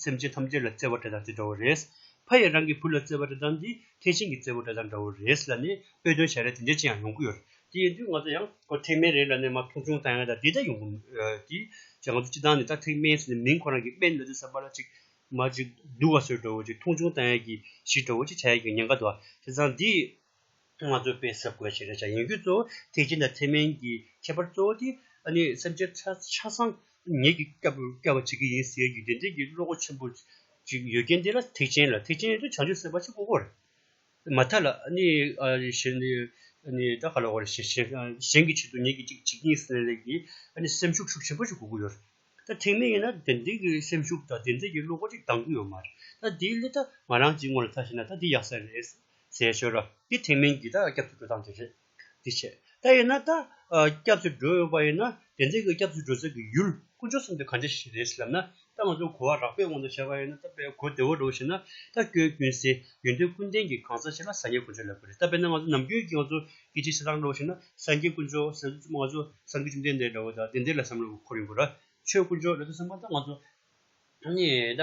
[SPEAKER 1] སེམས་ཅན་ཐམས་ཅད་ལ་བརྩེ་བ་དྲི་དང་དེ་འདྲ་བོ་རེད། ཕ་ཡིས་རང་གི་བུ་ལ་བརྩེ་བ་དྲི་དང་འདི་ཐེག་ཆེན་གྱི་བརྩེ་བོ་དྲི་དང་འདྲ་བོ་རེད་ལ་ནི་དཔེ་དོན་བྱ་རེ་དེ་འདྲའི་ཅི་ཡང་ཡོང་གི་ཡོད་རེད་དེ་ཡིན་དུས་ང་ཚོ་ཡང་ཁོ་ཐེག་དམན་རེད་ལ་ནི་མ་མཐོང་ཆུང་ལྟ་ཡང་ད་དེ་འདྲ་ཡོང་གི་མོད་ཀྱི། ཅེས་ང་ཚོ་སྤྱི་བཏང་ནས་ད་ཐེག་དམན་ཟེར་ནས་མིང་ཁོ་རང་གི་དཔེ་འདི་འདི་ཟེར་བ་ལ་ཅིག་མ་ཅིག་བསྡུ་བ་སོད་འདྲ་བོ་ཅིག་མཐོང་ཆུང་ལྟ་ཡས་ཀྱི་ཞིག་འདྲ་བོ་ཅིག་བྱ་ཡས་ཀྱི་ཉེན་ཁ་དོ་བ་དེ་ཚང་འདིས། ང་ཚོས་དཔེ་གསར་བཀོད་བྱས་ན་བྱ་ཡིན་རྒྱུ་གཙོ་བོ་ཐེག་ཆེན་དང་ཐེག་དམན་གྱི་ཁྱད་པར་གཙོ་བོ་དེ་སེམས་ཅན་ཆ་ཚང་ངེད་ཀྱིས་བསྐྱབ་པར་བྱེད་ཀྱི་ཡིན་ཟེར་རྒྱུའི་བདེན་འཛིན་གྱི་བློ་སྒོ་ཆེན་པོ་ཅིག་ཡོད་རྐྱེན་དེ་ལ་ཐེག་ཆེན་ལ་ཐེག་ཆེན་དུ་བྱང་ཆུབ་སེམས་དཔའ་ཆེན་པོ་དགོས་རེད། མ་མཐའ་ལ་གཞན་གྱི་ཆེད་དུ་ངེད་ཀྱིས་ཅིག་གཉིས་གསུམ་ལས་ཀྱི་སེམས་ཤུགས་ཤུགས་ཆེན་པོ་ཞིག་དགོས་ཀྱི་ཡོད་རེད། ད་ཐེག་དམན་ཡིན་ན་བདེན་འཛིན་གྱི་སེམས་ཤུགས་དང་བདེན་འཛིན་གྱི་བློ་སྒོ་ཅིག་འདང་རྒྱུ་ཡོད་མ་རེད། ད་དེའི་སླད་ད་ང་རང་གཅིག་ངོ་ལ་ལྟ་བྱས་ན་ད་དེ་ཡག་ས་རེད། ཟེར་ཞོར་རོ། འདི་ཐེག་དམན་གྱི་ད་སྐྱབས་སུ་འགྲོ་སྟངས་དེ་རེད། འདི་བྱས། ད་ཡིན་ན་ད་སྐྱབས་སུ་འགྲོ་འོས་པ་ཡིན་ན་དེ་འཛིན་གྱི་སྐྱབས་སུ་འགྲོ་ཟེར་གྱི་ཡུལ་དཀོན་མཆོག་གསུམ་དེ་གང་ཅི་ཞིག་རེད་ཟེར་ལབ་ན་ད་ང་ཚོ་གོ་བ་རགས་པའི་དབང་དུ་བྱས་པ་ཡིན་ན་ད་དཔལ་གོ་བདེ་བོ་འགྲོ་ཞེ་ན་ད་སྐྱོན་ཀུན་སེལ་ཡོན་ཏན་ཀུན་ལྡན་གྱི་གང་ཟག་ཞིག་ལ་སངས་རྒྱས་དཀོན་མཆོག་ལབ་གི་རེད་ད་དཔེར་ན་ང་ཚོ་ནམ་རྒྱུན་གྱི་ང་ཚོ་སྐད་ཆའི་བྱེད་སྟངས་འགྲོ་ཞེ་ན་སངས་རྒྱས་དཀོན་མཆོག་ཟེར་ན་ང་ཚོ་སངས་རྒྱས་བཅོམ་ལྡན་འདས་འདྲ་བོ་དང་དེ་འདྲའི་ལ་བསམ་བློ་འཁོར་ཡོང་དགོས་ར་ཆོས་དཀོན་མཆོག་ལ་ད་བསམ་པ་ད་ང་ཚོ་ནི་ད།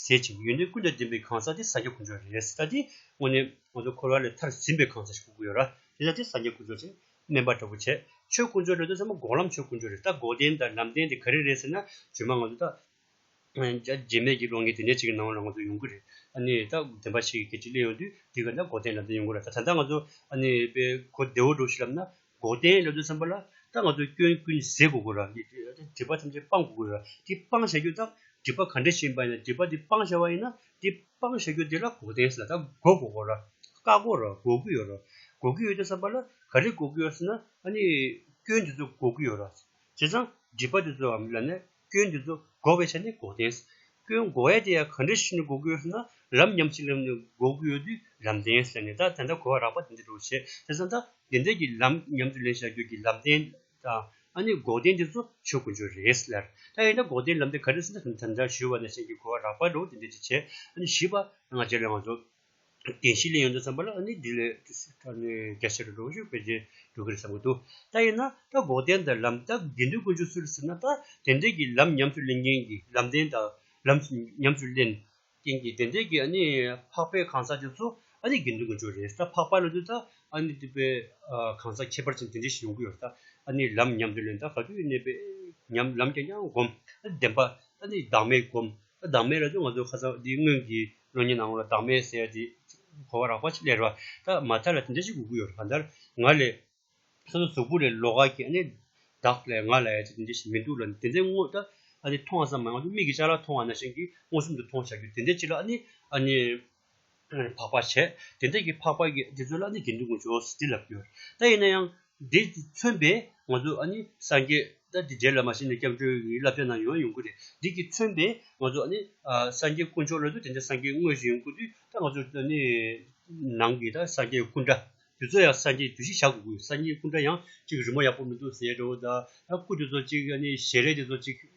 [SPEAKER 1] ཟད་ཅིང་ཡུན་ནི་ཀུན་ཏུ་བདེན་པའི་གང་ཟག་དེ་སངས་རྒྱས་ཀུན་སྦྱོར་རེད། ད་དེ་དངོས་གནས་ང་ཚོ་འཁོར་བ་ལས་མཐར་ཟིན་པའི་གང་ཟག་ཞིག་ཀུན་ཀུན་ཡོད་ར་དེ་ད་དེ་སངས་རྒྱས་ཀུན་སྦྱོར་ཅན་སྨན་པ་འདྲ་པོ་བྱས་ཆོས་ཀུན་སྦྱོར་རེད་དོ་ཟེར་མ་འགོག་ལམ་ཆོས་ཀུན་སྦྱོར་རེད་ད་འགོག་བདེན་དང་ལམ་བདེན་དེ་ག་རེ་རེད་ཟེར་ན་བརྗོད་མ་ང་ཚོ་ད་རྗེས་མེད་ཀྱི་བློ་ངན་དེ་ནས་ཅིག་གི་ནང་ལ་ང་ཚོ་ཡོང་གི་རེད་ཨ་ནི་ད་བདེན་པ་ཞིག་གི་སྐད་ཅིག་གླེང་ཡོང་དུས་འདི་ག་ད་འགོག་བདེན་ལམ་བདེན་ཡོང་གི་ར་ད་ད་ལྟ་ང་ཚོ་ཨ་ནི་དཔེ་གོ་བདེ་བོ་འགྲོ་ཞིག་ལབ་ན་འགོག་བདེན་སླད་དུ་བསམ་པ་ལ་ད་ང་ཚོས་སྐྱོན་ཀུན་ཟད་དགོས་དགོས་ར་སྒྲིབ་པ་ཐམས་ཅད་སྤང་དགོས་དགོས་ར་དེ་སྤང་བྱ་རྒྱུ་དང་སྒྲིབ་པ་ག་འདྲ་ཞིག་ཡིན་པ་ཡིན་ན་སྒྲིབ་པ་དེ་སྤང་བྱ་བ་ཡིན་ན་དེ་སྤང་བྱ་རྒྱུ་དེ་ལ་འགོག་བདེན་ཟེར་ལ་ད་འགོག་དགོས་དགོས་ར་བཀག་དགོས་ར་འགོག་གི་ཡོད་ར་འགོག་གི་ཡོད་དེ་བསམ་པ་ལ་ག་རེ་འགོག་གི་ཡོད་ཟེར་ན་ཨ་ནི་སྐྱོན་དེ་ཚོ་འགོག་གི་ཡོད་ར་བྱས་ཙང་སྒྲིབ་པ་དེ་ཚོའམ་ཡང་ན་སྐྱོན་འདི་ཚོ་འགོག་པའི་ཆ་ནས་འགོག་བདེན། སྐྱོན་འགོག་ཡ་དེ་ཡང་ག་འདྲའི་ཤུགས་ནས་འགོག་གི་ཡོད་ཟེར་ན་རབ་ཉམས་ཆེ་ལམ་ནས་འགོག་གི་ཡོད་དུས་རམ་བདེན་ཟེར་ནས་ད་དེ་འདྲ་གོ་བ་རག་པ་དེ་འདྲ་འགྲོ་བྱེད་དེ་ཚོ་ད་དེ་འདྲ་གི་ལམ་ཉམས་དུ་ལེན་བྱ་རྒྱུ་གི་ལམ་བདེན་དང་ཨ་ནི་འགོག་བདེན་དེ་ཚོ་ཆོས་ཀུན་ཆོས་རེད་ཟེར་ལར་ད་ཡིན་ན་འགོག་བདེན་ལམ་དེ་ག་འདྲ་ཟེར་ན་ད་དེ་འདྲ་ཞུས་བ་ནས་གཞན་གྱིས་གོ་བ་རག་པ་འགྲོ་བ་དེ་འདྲ་ཅིག་བྱེད་ཨ་ནི་བཞི་པ་ང་རྗེ་ལས་དབང་འཛོམས། དེང་ཕྱིས་ལས་ཡོན་དུ་བརྩམས་པ་ལ་ཨ་ནི་འདི་ལས་ཀྱི་སི་ཏྲ་ནི་རྒྱ་ཆེར་འགྲོ་ཞིང་ཕལ་ཆེར་འགྲོ་གི་རེད་བསམ་གྱི་འདུག་ད་ཡིན་ན་ད་འགོག་བདེན་དང་ལམ་ལྟ་དགེ་འདུན་དཀོན་མཆོག་སུ་རེད་ཟེར་ན་ད་དེ་འདྲས་ཀྱི་ལམ་ཉམས་སུ་ལེན་མཁན་གྱི་ལམ་བདེན་དང་ལམ་ཉམས་སུ་ལེན་མཁན་གྱི་དེ་འདྲས་ཀྱི་ཨ་ནི་འཕགས་པའི་གང་ཟག་དེ་ཚོ་ཨ་ནི་དགེ་འདུན་དཀོན་མཆོག་རེད་ད་འཕགས་པ་ལ་དུས་ད་ཨ་ནི་འདི་པའི་གང་ཟག་ཁྱད་པར་ཅན་དེ་འདྲས་ཤིག་ཡོང་གི་ཡོད་རེད་ད་ཨ་ནི་ལམ་ཉམས་སུ་ལེན་ད་ག་དུས་གནས་པའི་ཉམས་ལམ་ཀྱང་ཀྱང་བསྒོམ་ཨ་ནི་བདེན་པ་ཨ་ནི་བདག་མེད་བསྒོམ་ད་བདག་མེད་ལ་དུས་ང་ཚོ་ཁ་ཟ་འདི་སྔོན་གྱི་ལོ་གཉིས་ནང་ལ་བདག་མེད་ཟེར་དེ་གོ་བ་རག་པ་ཅིག་ལས་རོ། ད་མ་ཐར་ལ་དེ་འདྲ་ཞིག་དགོས་ཀྱི་ཡོད་རེད་ག་དར་ང་ལས། ས་ལ་གཟུགས་པོ་ལས་ལོ་ག་གྱེས་ནས། བདག་ལས་ང་ལས་དེ་འདྲ་ཞིག་མི་འདུག་ལ་དེ་འདྲའི་དངོས་ད་ཨ་ནི་མཐོང་བ་ཙམ་མ་ཡོང་ཏེ་མིག་གིས་ཅག་ལ་མཐོང་བ་ན་ཤིང་གིས་མངོན་སུམ་དུ་མཐོང་བ་བྱ་རྒྱུ་དེ་འདྲའི་ཅིག་ལ་ཨ་ནི་ཨ་ནི། འཕགས་པ་བྱས། དེ་འདྲ་གྱི་འཕགས་པ་གྱིས་དེ་ཚོ་ལ་ནི་དགེ་འདུན་གྱི་འབྱོར་བ་ཟེར་དེ་ལབ་ཀྱི་ཡོད་རེད་ད་ཡིན་ན་ཡང། འདི་མཚོན་པས་ང་ཚོས་ཨ་ནི་སངས་རྒྱས་ཏེ་དེ་རྗེས་ལ་མ་ཤི་ནས་སྐྱབས་འགྲོའི་ཡི་བསླབ་བྱ་རྣམས་ཡོང་བ་ཡོང་ཁུལ་རེད་འདི་གྱིས་མཚོན་པས་ང་ཚོ་ཨ་ནི་སངས་རྒྱས་དཀོན་མཆོག་ལ་དེ་འདྲའི་སངས་རྒྱས་དངོས་ཞིག་ཡོང་དགོས་དུས་ད་ང་ཚོ་ཨ་ནི་ནང་གི་ད་སངས་རྒྱས་སྐུ་འདྲ་དེ་ཚོ་ཡང་སངས་རྒྱས་དུས་ཤིག་བཞག་དགོས་སངས་རྒྱས་སྐུ་འདྲ་ཡང་གཅིག་རི་མོ་ཡག་པོ་མི་འདུག་ཟེར་ཡོད་ཀྱི་འདུག་ད་སྐུ་དེ་ཚོ་གཅིག་ཨ་ནི་ཞལ་རས་དེ་ཚོ་གཅིག།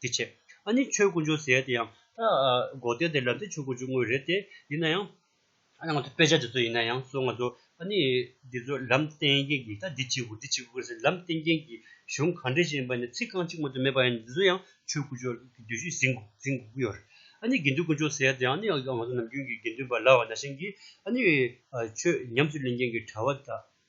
[SPEAKER 1] དེ་བྱས། ཨ་ནི་ཆོས་སྐུ་འབྱུང་ཟེར་ཡ་དེ་ཡང། སྒོ་གཏན་དེ་ལབ་དེ་ཆོས་སྐུ་འབྱུང་དངོས་རེད་དེ། ཡིན་ན་ཡང། ཨ་ནི་ང་ཚོ་དཔེ་ཆ་དེ་ཚོ་ཡིན་ན་ཡང་སོ་ང་ཚོ། ཨ་ནི། འདི་ཚོ་ལམ་བསྟན་མཁན་གྱི་ད་འདི་གཅིག་གོ་འདི་གཅིག་གོ་ཟེར་ལམ་བསྟན་མཁན་གྱི་གཞུང་གང་འདྲས་ཅིག་ཡིན་པ་ནི་ཚིག་རྐང་གཅིག་མ་གཏོགས་མེད་པ་ཡིན་འདི་ཚོ་ཡང་ཆོས་སྐུ་འབྱུང་བའི་བརྗོད་གཞི་ཟིན་ཟིན་དགོས་ཀྱི་ཡོད་རེད། ཨ་ནི་དགེ་འདུན་སྐུ་འབྱུང་ཟེར་ཡ་དེ་ཡང་ཨ་ནི་ང་ཚོ་ནམ་རྒྱུན་གྱི་དགེ་འདུན་པ་ལ་བ་ན་ཤིང་གིས་ཨ་ནི། ཆོས་ཉམས་སུ་ལེན་མཁན་གྱི་གྲྭ་བ་དག།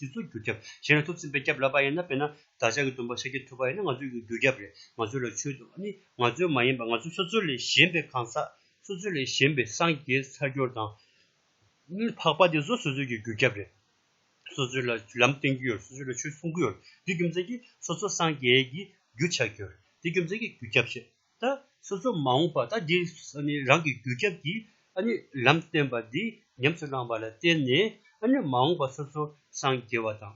[SPEAKER 1] དེ་ཚོ་རྒྱུ་རྒྱབ་བྱས་ན་ཐུགས་ཚིམ་པའི་སྐྱབས་ལབ་པ་ཡིན་ན་དཔེར་ན་བདག་ཅག་གི་སྟོན་པ་ཤཱ་ཀྱའི་ཐུ་བ་ཡིན་ན་ང་ཚོའི་རྒྱུ་རྒྱབ་རེད་ང་ཚོ་ལ་ཆོས་དུ་ནི་ང་ཚོའི་མ་ཡིན་པར་ང་ཚོ་སོ་སོ་ལས་གཞན་པའི་གང་ཟག་སོ་སོ་ལས་གཞན་པའི་སངས་རྒྱས་ཚར་སྦྱོར་དང། འཕགས་པ་དེ་ཚོ་སོ་སོའི་རྒྱུ་རྒྱབ་རེད། སོ་སོའི་ལ་ལམ་བསྟན་གྱི་ཡོད་སོ་སོའི་ལ་ཆོས་གསུང་གི་ཡོད་རེད་དེ་རྒྱུ་མཚན་གྱིས་སོ་སོ་སངས་རྒྱས་ཀྱི་རྒྱུ་ཆགས་ཀྱི་ཡོད་རེད་དེ་རྒྱུ་མཚན་གྱིས་རྒྱུ་རྒྱབ་བྱེད། ད་སོ་སོ་མ་འོངས་པ་ད་འདི་རང་གི་རྒྱུ་ཁྱབ་ཀྱི་ལམ་བསྟན་པ་འདི་ཉམས་སུ་བླངས་པ་ལ་བརྟེན་ནས་མ་འོངས་པ་སོ་སོ་སངས་རྒྱས་པ་དང་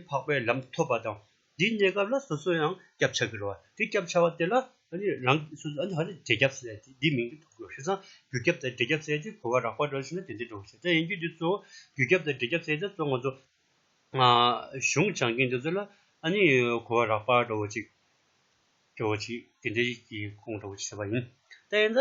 [SPEAKER 1] འཕགས་པའི་ལམ་ཐོབ་པ་དང་འདིའི་གནས་སྐབས་ལ་སོ་སོ་ཡང་སྐྱབས་འཆགས་ཀྱི་རོ་དེ་སྐྱབས་འཆགས་པ་དེ་ལ་རང་འབྲས་སྐྱབས་ཟེར་ཏེ་འདིའི་མིང་འདི་ཐོབ་ཀྱི་རོ་རྒྱུ་ཁྱབ་དང་འབྲས་སྐྱབས་ཟེར་ཏེ་གོ་བ་རགས་པ་འགྲོ་ཞིང་ན་དེ་འདི་འགྲོ་བ་ཟེར་ད་ཡིན་རྒྱུ་འདི་གཙོ་བོ་རྒྱུ་ཁྱབ་དང་འབྲས་སྐྱབས་ཟེར་ད་གཙོ་ང་ཚོ་གཞུང་བྱང་གི་འདི་ཚོ་ལ་གོ་བ་རགས་པ་འགྲོ་བ་ཅིག། སྐྱོ་བོ་ཅིག་གིས་འདི་ཡིད་ཀྱིས་ཁོང་ཁྲོ་བྱེད་པ་ཡིན། ད་ཡིན་ད།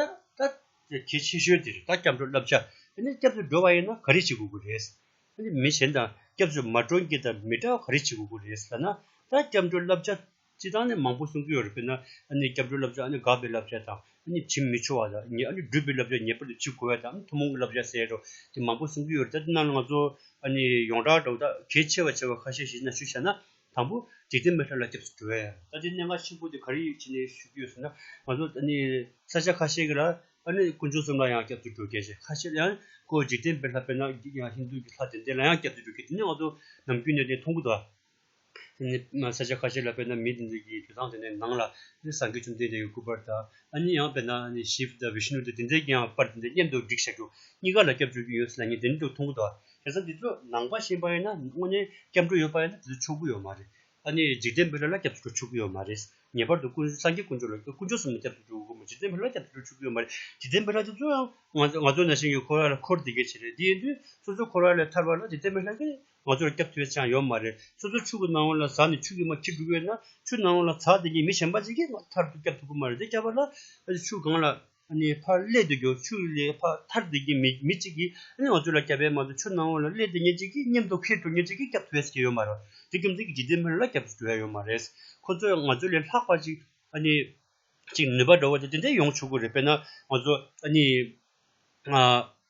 [SPEAKER 1] དེ་ཆེ་ཤོས་དེར་ད་སྐྱབས་འགྲོ་བསླབ་བྱ་དེ་ནས་སྐྱབས་སུ་འགྲོ་བ་ཡིན་ན་ག་རེ་བྱེད་དགོས་ཀྱི་རེད། མི་གཞན་དང་སྐྱབས་སུ་མ་འགྲོ་འགྱེད་དང་མི་འདྲ་བ་ག་རེ་བྱེད་དགོས་ཀྱི་རེད་ཟེར་ན། ད་སྐྱབས་འགྲོ་བསླབ་བྱ་སྤྱི་དང་ནས་མང་པོ་གསུང་གི་ཡོད་རེད་དཔེར་ན། སྐྱབས་འགྲོ་བསླབ་བྱ་དགག་པའི་བསླབ་བྱ་དང། བྱེད་མི་ཆོག་བ་དང། སྒྲུབ་པའི་བསླབ་བྱ་ངེས་པར་དུ་བྱེད་དགོས་བ་དང་ཐུན་མོང་གི་བསླབ་བྱ་ཟེར་རོ། དེ་མང་པོ་གསུང་གི་ཡོད་རེད་ད་དེ་རྣམས་ལ་ང་ཚོ། ཡོངས་གྲགས་འདྲ་བོ་ད་གལ་ཆེ་བ་ཆེ་བ་ཁ་ཤས་ཤིག་ན་ཞུ་བྱ་ན། དང་པོ། འཇིག་རྟེན་མི་ཕྲ་ལ་སྐྱབས་སུ་འགྲོ་བས། ད་ལྟའི་གནས་ལྔ་ཆེན་པོ་འདི་ག་རེ་ཡོད་ཅེས་ཞུ་རྒྱུ་ཡོད་ཟེར་ན། ང་ཚོ་ནི་ས་ཆ་ཁ་ཤས་ཀྱི་ལ། ཀུན་སྤྱོད་གསུམ་ལ་ཡང་སྐྱབས་སུ་འགྲོ་དགེ་ཞེས་ཁ་ཤས་ཡང་བཀོད། འཇིག་རྟེན་པའི་ལྷ་དཔེར་ན་ཧིན་དུ་གྱི་ལྷ་དེ་འདི་ལ་ཡང་སྐྱབས་སུ་འགྲོ་དགེ་དེ་ནི་ང་ཚོ་ནམ་རྒྱུན་གནས་དེ་མཐོང་གི་འདུག་ཨ། དེ་ནི་ས་ཆ་ཁ་ཤས་ལ་དཔེར་ན་མི་དེ་འདི་གྱི་དུད་ཚང་དེ་ནི་ནང་ལ་ནི་སངས་རྒྱས་བཅོམ་ལྡན་འདས་ཀྱི་སྐུ་དཔར་དང། ཨ་ནི་ཡང་དཔེར་ན་ཤིབ་དང་བི་ཤི་ནུ་དེ་དེ་འདི་གྱི་ཡང་དཔར་དེ་འདི་མཉམ་དུ་བསྒྲིགས་བཞག་འདུག་གཉིས་ཀ་ལ་སྐྱབས་བཅོལ་རྒྱུ་ཡོད་ཟེར་ན་ངས་དེ་འདྲ་འདུག་མཐོང་གི་འདུག་ཨ། དེ་ཚོ་འདི་ཚོ་ནང་པ་ཤེས་པ་ཡིན་ན་དངོས་གནས་སྐྱབས་འགྲོ་ཡོད་པ་ཡིན་ན་དེ་ཚོ་ཆོག་གི་ཡོད་མ་རེད། ཨ་ནི་འཇིག་རྟེན་པའི་བློན་ལ་སྐྱབས་སུ་འགྲོ་ཆོག་གི་ཡོད་མ་རེད། ངེས་པར་དུ་ཀུན་སངས་རྒྱས་ཀུན་སྤྱོད་ལ་ཀུན་སྤྱོད་གསུམ་ལ་སྐྱབས་སུ་འགྲོ་དགོས་མོད་འཇིག་རྟེན་པའི་བློན་ལ་སྐྱབས་སུ་འགྲོ་ཆོག་གི་ཡོད་མ་རེད། འཇིག་རྟེན་པའི་བློན་དེ་ཚོ་ཡང་ང་ཚོ་ན་ཞིང་ཡོད་ཁོ་ར་ལ་འཁོར་དེ་གས་བྱས་རེད་དེ་ཡིན་དུས་སོ་སོའི་ཁོ་ར་ལས་ཐར་བ་ལ་འཇིག་རྟེན་པའི་བློན་གིས་ང་ཚོ་ལ་སྐྱབས་ཐེལ་ཆའང་ཡོད་མ་རེད། སོ་སོའི་ཕྱུགས་ཀྱི་ནང་བ་ལ་ཟག་ནས་ཕྱུགས་ཀྱི་མ་ཁྱི་འབྲུག་ཡོད་ན་ཕྱུགས་ནང་བ་ལ་ཟག་དེ་གཉིས་མི་གཞན་པ་ཅིག་གིས་ཐར་ཐུབ་སྐྱབས་ཐུབ་ཀྱི་མ་རེད་དེ་སྐྱབས་པ་ལ་ཕྱུགས་གང་ལ། ནས་ཕར་སླད་དུ་རྒྱོ་ཆུ་ལས་ཕ་མཐར་འདུས་ཀྱི་མི་གཅིག་གིས་ཨ་ནེ་འོ་ཆུ་ལ་སྐྱབས་པས་མ་ཚུར་ཆུ་ནང་འོ་ལ་སླད་དུ་ཉེ་གཅིག་གིས་མཉམ་དུ་ཁེར་དུ་ཉེ་གཅིག་གིས་སྐྱབས་ཐུབ་བས་ཀྱི་ཡོད་མ་རེད་དེ་རྒྱུ་མཚན་གྱིས་འཇིག་རྟེན་ཕལ་ལ་སྐྱབས་སུ་འགྲོ་ཡ་ཡོད་མ་རེད། ཁོ་ཚོས་ང་ཚོ་ལས་ལྷག་པ་ཅིག་ཨ་ནེ། ཅིག་ནུས་པ་འགྲོ་བ་དེ་དེ་འདྲས་ཡོང་ཆོག་གི་རེད་དཔེར་ན་ང་ཚོ་ཨ་ནེ།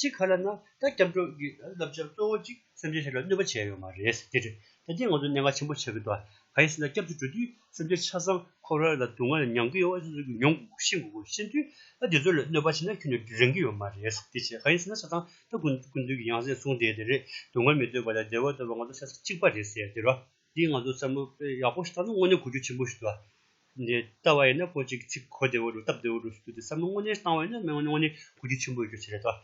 [SPEAKER 1] ཅི་ག་ལ་ན་ད་སྐྱབས་འགྲོ་གི་བསླབ་བྱ་གཙོ་བོ་གཅིག་སེམས་ཅན་ལྷའི་ལ་གནོད་པ་བྱས་ཡོད་མ་རེད་ཟེར་ཏེ། ད་ལྟའི་ང་ཚོ་གནད་འགག་ཆེན་པོ་ཆགས་ཀྱི་འདུག་ག་ཡིན་ཟེར་ན་སྐྱབས་འགྲོ་འགྲོ་དུས་སེམས་ཅན་ཆ་ཚང་ཁོ་ར་ལ་སྡུག་བསྔལ་ལ་མྱང་གི་ཡོད་ཨོ་ཅོ་ཅོ་གི་མྱོང་དགོས་གོ་ཤེས་དགོས་གོ་ཤེས་དུས་ད་འདི་ཚོ་ལ་གནོད་པ་བྱས་ན་ཁྱོད་ནི་རེངས་ཀྱི་ཡོད་མ་རེད་ཟེར་ཏེ་བྱས་ག་ཡིན་ཟེར་ན་ཆ་ཚང་ད་ཀུན་མཁྱེན་ཀུན་འདུས་ཀྱི་ཡང་ཟེར་གསུངས་བསྡད་དེ་རེད་སྡུག་བསྔལ་མི་འདོད་པ་ལ་བདེ་བ་འདོད་པ་ང་ཚོ་ཤ་ཚ་གཅིག་པ་རེད་ཟེར་དེ་རོ། འདིས་ང་ཚོར་བསམ་བློ་ཡག་པོ་ཞིག་བཏང་ན་དངོས་གནས་གོ་རྒྱུ་ཆེན་པོ་ཞིག་འདུག་ལ། ལྟ་བ་ཡིན་ན་ཁོ་ཅིག་ཚིག་གོ་བདེ་བོ་འདུག་སྟབས་བདེ་བོ་འདུག་ཟེར་དུས་དེ་བསམ་བློ་དངོས་གནས་བཏང་བ་ཡིན་ན་དངོས་གནས་གོ་རྒྱུ་ཆེན་པོ་ཡོད་རྒྱུ་དེ་རེད་དོ།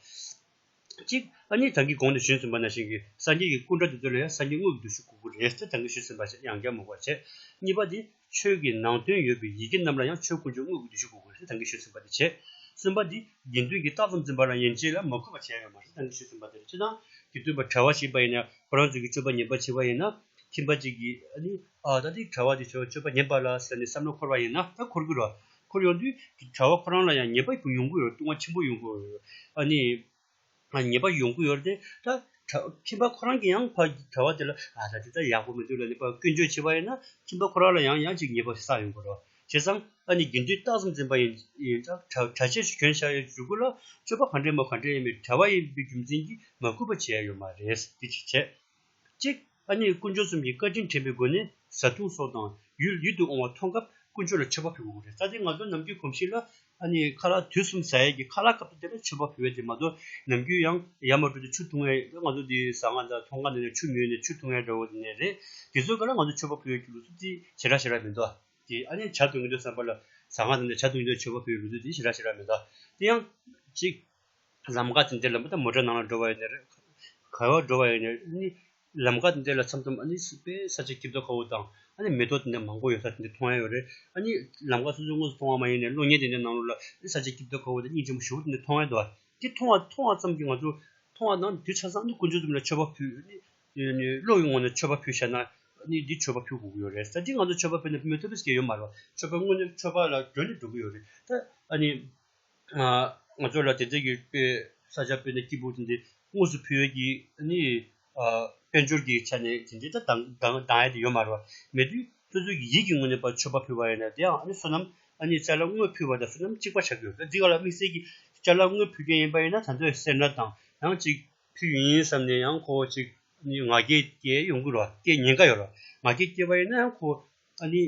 [SPEAKER 1] གཅིག། ཨ་མྱེས་བདག་གིས་གོང་དུ་ཞུས་ཟིན་པ་ནང་བཞིན་གྱི་སངས་རྒྱས་ཀྱི་སྐུ་འདྲ་དེ་ཚོ་ལ་ཡང་སངས་རྒྱས་དངོས་ཀྱི་འདུ་ཤེས་དགོས་ཀྱི་རེད་ཟེར་བདག་གིས་ཞུས་ཟིན་པ་ཞིག་ཡང་བསྐྱར་མོ་བར་བྱས། གཉིས་པ་འདི། ཆོས་ཀྱི་ནང་དོན་ཡོད་པའི་ཡི་གེ་རྣམས་ལ་ཡང་ཆོས་དཀོན་མཆོག་དངོས་ཀྱི་བསྡུས་གཞུང་གོ་དགོས་ཞེས་དང་གིས་ཤོད་ཟིན་པ་དེ་བྱེད། གསུམ་པ་འདི་དགེ་འདུན་གྱིས་རྟགས་ཙམ་འཛིན་པ་ལ་ཡན་ཆད་ལ་མ་གུས་པ་བྱས་ཡོད་མ་ཞེས་དང་གིས་ཤོད་ཟིན་པ་དེར་སྤྱི་དང་གི་བསྟུན་པ་བྲལ་བ་ཞིག་པ་ཡིན་ན་ཁོ་རང་ཚོ་གིས་སྤྱོད་པ་ཉན་པ་བྱེད་པ་ཡིན་ན་ཁྱིམ་པ་གཅིག་གིས་ནི་ཨ་ད་དེའི་གྲྭ་བ་དེ་ཆོས་སྤྱོད་པ་ཉན་པ་ལ་ཟེར་ནས་བསམ་བློ་འཁོར་བ་ཡིན་ན་ད་འཁོར་གི་རོ། འཁོར་ཡོང་དུས་དེ་གྲྭ་བ་ཁོ་རང་ལ་ཡང་ཉན་པ་ཡོང་གི་རེད་ལྟུང་བ་ཆེན་པོ་ཡོང་གི་རེད། ཉེས་པ་ཡོང་གི་ཡོད་དེ། ཁྱིམ་པ་ཁོ་རང་གིས་ཡང་ཕ་གྲྭ་བ་དེ་ལ་ཨ་ད་དེ་ད་ཡག་པོ་མི་འདུག་ལ་ནི་ཕ་ཀུན་སྤྱོད་བྱེད་པ་ཡིན་ན་ཁྱིམ་པ་ཁོ་རང་ལ་ཡང་ཡང་ཅིག་ཉེས་པ་བསགས་ཡོང་གི་རོགས་བྱས་ཙང་ཨ་ནི་དགེ་འདུན་རྟགས་ཙམ་འཛིན་པ་ཡིན་ཙང་གྲྭ་ཆས་སུ་གྱོན་བཞག་ཡོད་འཇུག་གི་ལ་སྤྱོད་པ་ག་འདྲའི་མོ་ག་འདྲའི་ཡིན་པའི་གྲྭ་བ་ཡིན་པའི་རྒྱུ་མཚན་གྱིས་མ་གུས་པ་བྱས་ཡོད་མ་རེད་དེ་ཅིག་བྱས། གཅིག། ཨ་མྱེས་དཀོན་མཆོག་གསུམ་གྱི་བཀའ་དྲིན་དྲན་པའི་སྒོ་ནས་བཟའ་བཏུང་སོགས་དང་ཡུལ་ཡུལ་དུ་འོང་བ་མཐོང་སྐབས་དཀོན་མཆོག་ལ་མཆོད་པ་ཕུལ་དགོས་རེད་བཀའ་དེ་ང་ཚོ་ནམ་རྒྱུན་གོམས་གཤིས་ལ་ཨ་མྱེས་ཁ་ལག་དུས་གསུམ་བཟའ་ཡས་ཀྱི་ཁ་ལག་སྐབས་དེ་ལྟར་མཆོད་པ་ཕུལ་བས་དེ་མ་གཏོགས་ནམ་རྒྱུན་ཡང་ཡར་མར་འགྲོ་དུས་ཆུ་འཐུང་ངེས་རེད་ང་ཚོ་འདིའི་བཟའ་ང་དང་ཐོ་འགའ་ནང་ནས་ཆུ་མྱོས་ནས་ཆུ་འཐུང་ཡས་འདྲ་བོ་ནས་རེད་དེ་ཚོ་ག་ལ་ང་ཚོ་མཆོད་པ་ཕུལ་ཡས་ཀྱི་ལུགས་སྲོལ་དེ་ཞེ་དྲག་ཞེ་དྲག་མི་འདུག་ཨ་དེ་ཨ་མྱེས་བྱ་འདོད་ངེས་འདོད་བསམ་པ་ལ་བཟའ་ང་དང་འདྲ་བྱ་འདོད་ངེས་འདོད་མཆོད་པ་ཕུལ་ཡས་ལུགས་སྲོལ་དེ་ཞེ་དྲག་ཞེ་དྲག་མི་འདུག་ཨ་དེ་ཡང། གཅིག། ལམ་དགའ་དང་འདི་ལ་མི་ད་མོ་དྲ་ནང་ལ་འགྲོ་བ་ཡོད་ནི་རེད། གར་བར་འགྲོ་བ་ཡོད་ནི། ལམ་དགའ་དང་འདི་ལ་ཚམ་ཚོམ་ཨ་ནི་སི་པའི་ས་ཆ་སྐྱིབས་རྡོ་ཁ་བོ་དང་ཨ་ནི་མེ་ཏོག་དེ་འདྲ་མང་པོ་ཡོད་ས་དེ་འདྲ་མཐོང་ཡ་ཡོད་རེད། ཨ་ནི་ལམ་དགའ་སོ་སོའི་དངོས་སུ་མཐོང་བ་མ་ཡིན་ནའི་གློག་བརྙན་དེ་འདྲའི་ནང་ལོ་ལ་ཨ་ནི་ས་ཆ་སྐྱིབས་རྡོ་ཁ་བོ་དང་སྙིང་ཆེན་པོ་བཞི་བོ་དེ་འདྲ་མཐོང་ཡ་འདུག་བ། དེ་མཐོང་བ་མཐོང་བ་ཙམ་གྱིས་ང་ཚོ་མཐོང་བ་དང་དེ་ཆ་ཚང་ཨ་ནི་ཀུན་སྤྱོད་རྩོམ་ལ་མཆོད་པ་ཕུལ། ཨ་ནི་གློག་གི་ངོ་ནས་མཆོད་པ་ཕུལ་བཤད་ན་ཨ་ནི་འདི་མཆོད་པ་ཕུལ་དགོས་ཀྱི་ཡོད་རེད་ད་དེ་ང་ཚོ་མཆོད་པ་ཕུལ་ན་བུད་མེད་ཐུབ་པའི་སྐལ་ཡོད་མ་རེད་བ། མཆོད་པ་དངོས་ནས་མཆོད་པ་ལ་སྒྲོན་ནས་འགྲོ་གི་ཡོད་རེད། ད་ཨ་ནི། ང་ཚོ་ལ་དེ་ལྟར་ཡོད་པའི་ས་ཆ་དཔེར་ན་སྐྱིད་པོ་དེ་འདྲའི་དངོས་སུ་ཕུལ་ཡོད་ཀྱི་ནི། དཔལ་འབྱོར་གྱི་ཆ་ནས་དེ་འདྲའི་ད་གདང་ཡ་དེ་ཡོད་མ་རེད་པ། མེད་དུས་སོ་སོའི་གི་ཡིད་ཀྱི་ངོ་ནས་པ་མཆོད་པ་ཕུལ་བ་ཡིན་ན་དེའང་ཨ་ནི་བསོད་ནམས་ཨ་ནི་ལྕགས་ལ་དངོས་ཕུལ་བ་དང་བསོད་ནམས་གཅིག་པ་ཆགས་ཀྱི་ཡོད་དེ་འདི་ག་ལ་དམིགས་བསལ་གྱི་ལྕགས་ལ་དངོས་ཕུལ་མཁན་ཡིན་པ་ཡིན་ན་ད་འདོད་སེར་སྣ་དང་ཡང་གཅིག་ཕུལ་ཡིན་བསམ་ནས་ཡང་ཁོ་བོ་ཅིག་ནི་ང་རྒྱལ་སྐྱེ་ཡོང་གི་རོ་སྐྱེ་ཉེན་ཀ་ཡོད་རོ་ང་རྒྱལ་སྐྱེ་བ་ཡིན་ན་ཡང་ཁོ་བོ་ཨ་ནི།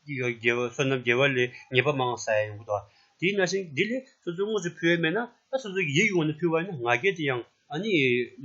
[SPEAKER 1] རྒྱལ་བ་བསོད་ནམས་རྒྱལ་བ་ལས་ཉེས་པ་མང་བསལ་ཡོང་གི་འདུག་ཨ། དེས་ན་ཤིང་འདི་ལས་སོ་སོའི་དངོས་སུ་ཕུལ་བས་མེད་ན་ད་སོ་སོའི་ཡིད་ཀྱི་ངོས་ནས་ཕུལ་བ་ཡིན་ན་ང་རྒྱལ་དེ་ཡང་ཨ་ནི།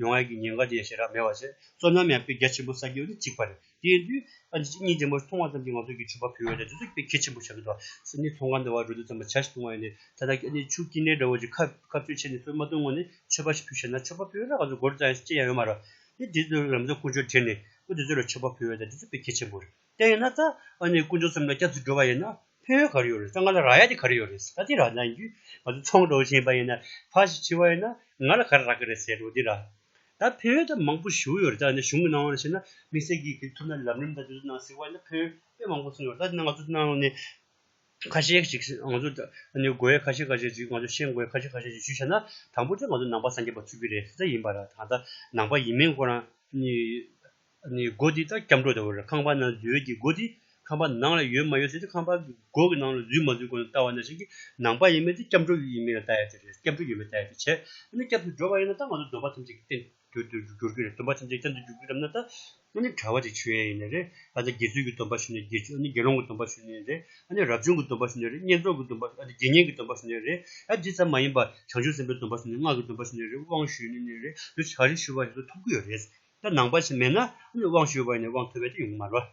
[SPEAKER 1] ཡོང་བ་ཡི་ཉེན་ཁ་དེ་ཡང་ཞེ་དྲག་མེད་པར་ཟད་སོ་ནམ་ཡང་དཔེ་རྒྱ་ཆེན་པོ་ས་རྒྱུ་ནི་གཅིག་པ་རེད་དེ་ཡིན་དུས་ཨ་ནི་གཉིས་ཆེན་པོ་མཐོང་བ་ཙམ་གྱིས་ང་ཚོ་གི་ཕྱུ་པ་ཕུལ་བས་ད་དུས་སུ་དཔེ་གལ་ཆེན་པོ་ཆགས་ཀྱི་འདུག་ཨ། ཨ་ནི་མཐོང་ག་འདི་བ་རུ་འདི་ཙམ་པ་བྱ་ཞིག་མཐོང་བ་ཡིན་ནའི་ད་ལྟ་གི་ཨ་ནི་ཕྱུགས་སྐྱིད་ནའི་དགྲ་བོ་ཅིག་ཁ་ཁ་ཚོས་ཆེ་ནས་སོ་མ་ཐུང་ངོ་ནས་མཆོད་པ་ཞིག་ཕུལ་ཤེ་ན་མཆོད་པ་ཕུལ་བས་ན་ང་ཚོ་སྒོར་རྩ་ཡང་གཅིག་ཅན་ཡང་ཡོད་མ་རེད་དེ། དེ་ཚོས་རང་ཚོའི་ཀུན་སྤྱོད་དྲན་ནས་སྐུ་དེ་ཚོ་ལ་མཆོད་པ་ཕུལ་བ་དང་འདི་ཚོ་དཔེ་གལ་ཆེན་པོ་རེད་བལྟས་ཡོད་ན་ད་ཨ་ནི་སྐུ་མཆོག་ཙམ་ལ་སྐྱབས་སུ་འགྲོ་བ་ཡིན་ན་ཕན་ཡོན་ག་རེ་ཡོད་རེད་ད་ང་ལ་རག་ཡ་དེ་ག་རེ་ཡོད་རེད་ཟེར་ད་དེ་རག་ན་ཡིན་རྒྱུ་ང་ཚོ་ཚོང་འགྲོ་བཞིན་པ་ཡིན་ན་ཕ་ཞིག་འཆི་བ་ཡིན་ན་ང་ལ་ག་རེ་རག་གི་རེད་ཟེར་རོ་དེ་རག་ད་ཕན་ཡོན་ད་མང་པོ་ཞུ་ཡོད་རེད་ད་ནི་གཞུང་གི་གནང་བ་ལ་བཤད་ན་དམིགས་བསལ་གྱིས་གེགས་ཐུབ་ན་ལམ་རིམ་ད་དེ་ཚོ་གནང་སྲིད་བ་ཡིན་ན་ཕན་ཡོན་དཔེ་མང་པོ་གསུངས་ཡོད་རེད་ད་དེ་ནང་ང་ཚོ་གནང་ཡོང་ནས་ཁ་ཤས་ཤིག་ང་ཚོ་ནི་གོ་བའི་ཁ་ཤས་ཁ་ཤས་ཤིག་ང་ཚོ་ཤེས་དགོས་ཁ་ཤས་ཁ་ཤས་ཤིག་ཞུ་བྱས་ན་དང་པོ་དེ་ང་ཚོ་ནང་པ་སངས་རྒྱས་པ་ཚུལ་གྱི་རེ་ས་ཡིན་པ་ར་ད་ནང་པ་ཡིན་མིན་སྐོར་རང་ནི་ནི་སྒོ་འདི་ལྟར་སྐྱབས་འགྲོ་དང་ཁང་པ་ནང་འཛུལ་གྱི་སྒོ་འདི་ཁང་པ་ནང་ལ་ཡོད་མ་ཡོད་ཟེར་ཏེ་ཁང་པ་གི་སྒོ་གི་ནང་ལ་འཛུལ་མ་འཛུལ་སྐོར་ནི་ལྟ་བ་ན་ཞིག་གིས་ནང་པ་ཡིན་མིན་དེ་སྐྱབས་འགྲོ་ཡིན་མིན་ལ་ལྟ་ཡ་དེ་རེད་སྐྱབས་འགྲོ་ཡོད་མེད་ལྟ་ཡ་དེ་བྱས་ཨ་ནི་སྐྱབས་འགྲོ་བ་ཡིན་ན་ད་ང་ཚོ་འདོད་པ་ཐམས་ཅད་ཀྱི་རྟེན་གྱུར་དུ་འགྱུར་གྱི་རེད་སྡོམ་པ་ཐམས་ཅད་ཅན་དུ་འགྱུར་གྱི་རེད་མནའ་ད། ནི་གྲྭ་བ་དེ་ཆོས་ཡིན་ནི་རེད་ཨ་ད་དགེ་ཚུལ་གྱི་སྡོམ་པ་ཞུ་ནི་དགེ་ཆོས་ཨ་ནི་དགེ་སློང་གི་སྡོམ་པ་ཞུ་ནི་རེད་ཨ་ནི་རབ་བྱུང་གི་སྡོམ་པ་ཞུ་ནི་རེད་བསྙེན་རྫོགས་ཀྱི་སྡོམ་པ་ཨ་ནི་དགེ་བསྙེན་གྱི་སྡོམ་པ་ཞུ་ནི་རེད་ཨ་འདི་ཙམ་མ་ཡིན་པར་བྱང་ཆུབ་སེམས་དཔའི་སྡོམ་པ་ཞུ་ནི་སྔགས་ཀྱི་སྡོམ་པ་ཞུ་ནི་རེད་དབང་ཞུ་ནི་ནི་རེད་འདུ་བྱ་རེ་ཞུ་བ་ཞིག་ཏུ་ཐུག་གི་ཡོད་རེད་ད་ནང་པ་ཞིག་མེད་ན་ཨ་ནི་དབང་ཞུ་བ་ཡིན་ནི་དབང་ཐོབ་པའི་དེ་ཡོང་གི་མ་རེད།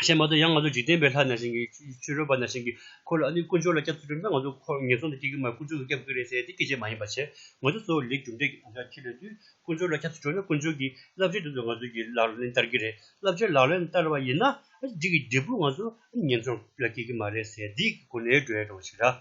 [SPEAKER 1] བཤད་མ་ཐུབ་ཡང་ང་ཚོ་འཇིག་རྟེན་པའི་ལྷ་ན་ཞིང་གི་ཆོས་རོལ་པ་ན་ཞིང་གི་འཁོར་ལ་ཨ་ནུའི་དཀོན་མཆོག་ལ་སྐྱབས་སུ་འགྲོ་ན་ང་ཚོ་འཁོར་ངན་སོང་དུ་སྐྱེ་གི་མ་རེད་དཀོན་མཆོག་གི་སྐྱབས་དགོས་རེད་ཟེར་དེ་སྐད་ཆ་མ་ཡིན་པ་བྱས་ང་ཚོ་གཙོ་བོ་ལས་རྒྱུ་འབྲས་ཀྱི་བག་ཆགས་ཁྱེར་ཡོད་དུས་དཀོན་མཆོག་ལ་སྐྱབས་སུ་འགྲོ་ན་དཀོན་མཆོག་གིས་བསླབ་བྱའི་དོན་དུ་ང་ཚོ་གྱི་ལག་ལེན་བསྟར་གི་རེད་བསླབ་བྱའི་ལག་ལེན་བསྟར་བ་ཡིན་ན་འདི་གི་འབྲས་བུ་ང་ཚོ་ཨ་ནུ་ངན་སོང་ལ་སྐྱེ་གི་མ་རེད་ཟེར་འདི་གི་སྒོ་ནས་འགྲོ་ཡ་འགྲོ་བ་ཞིག་ར།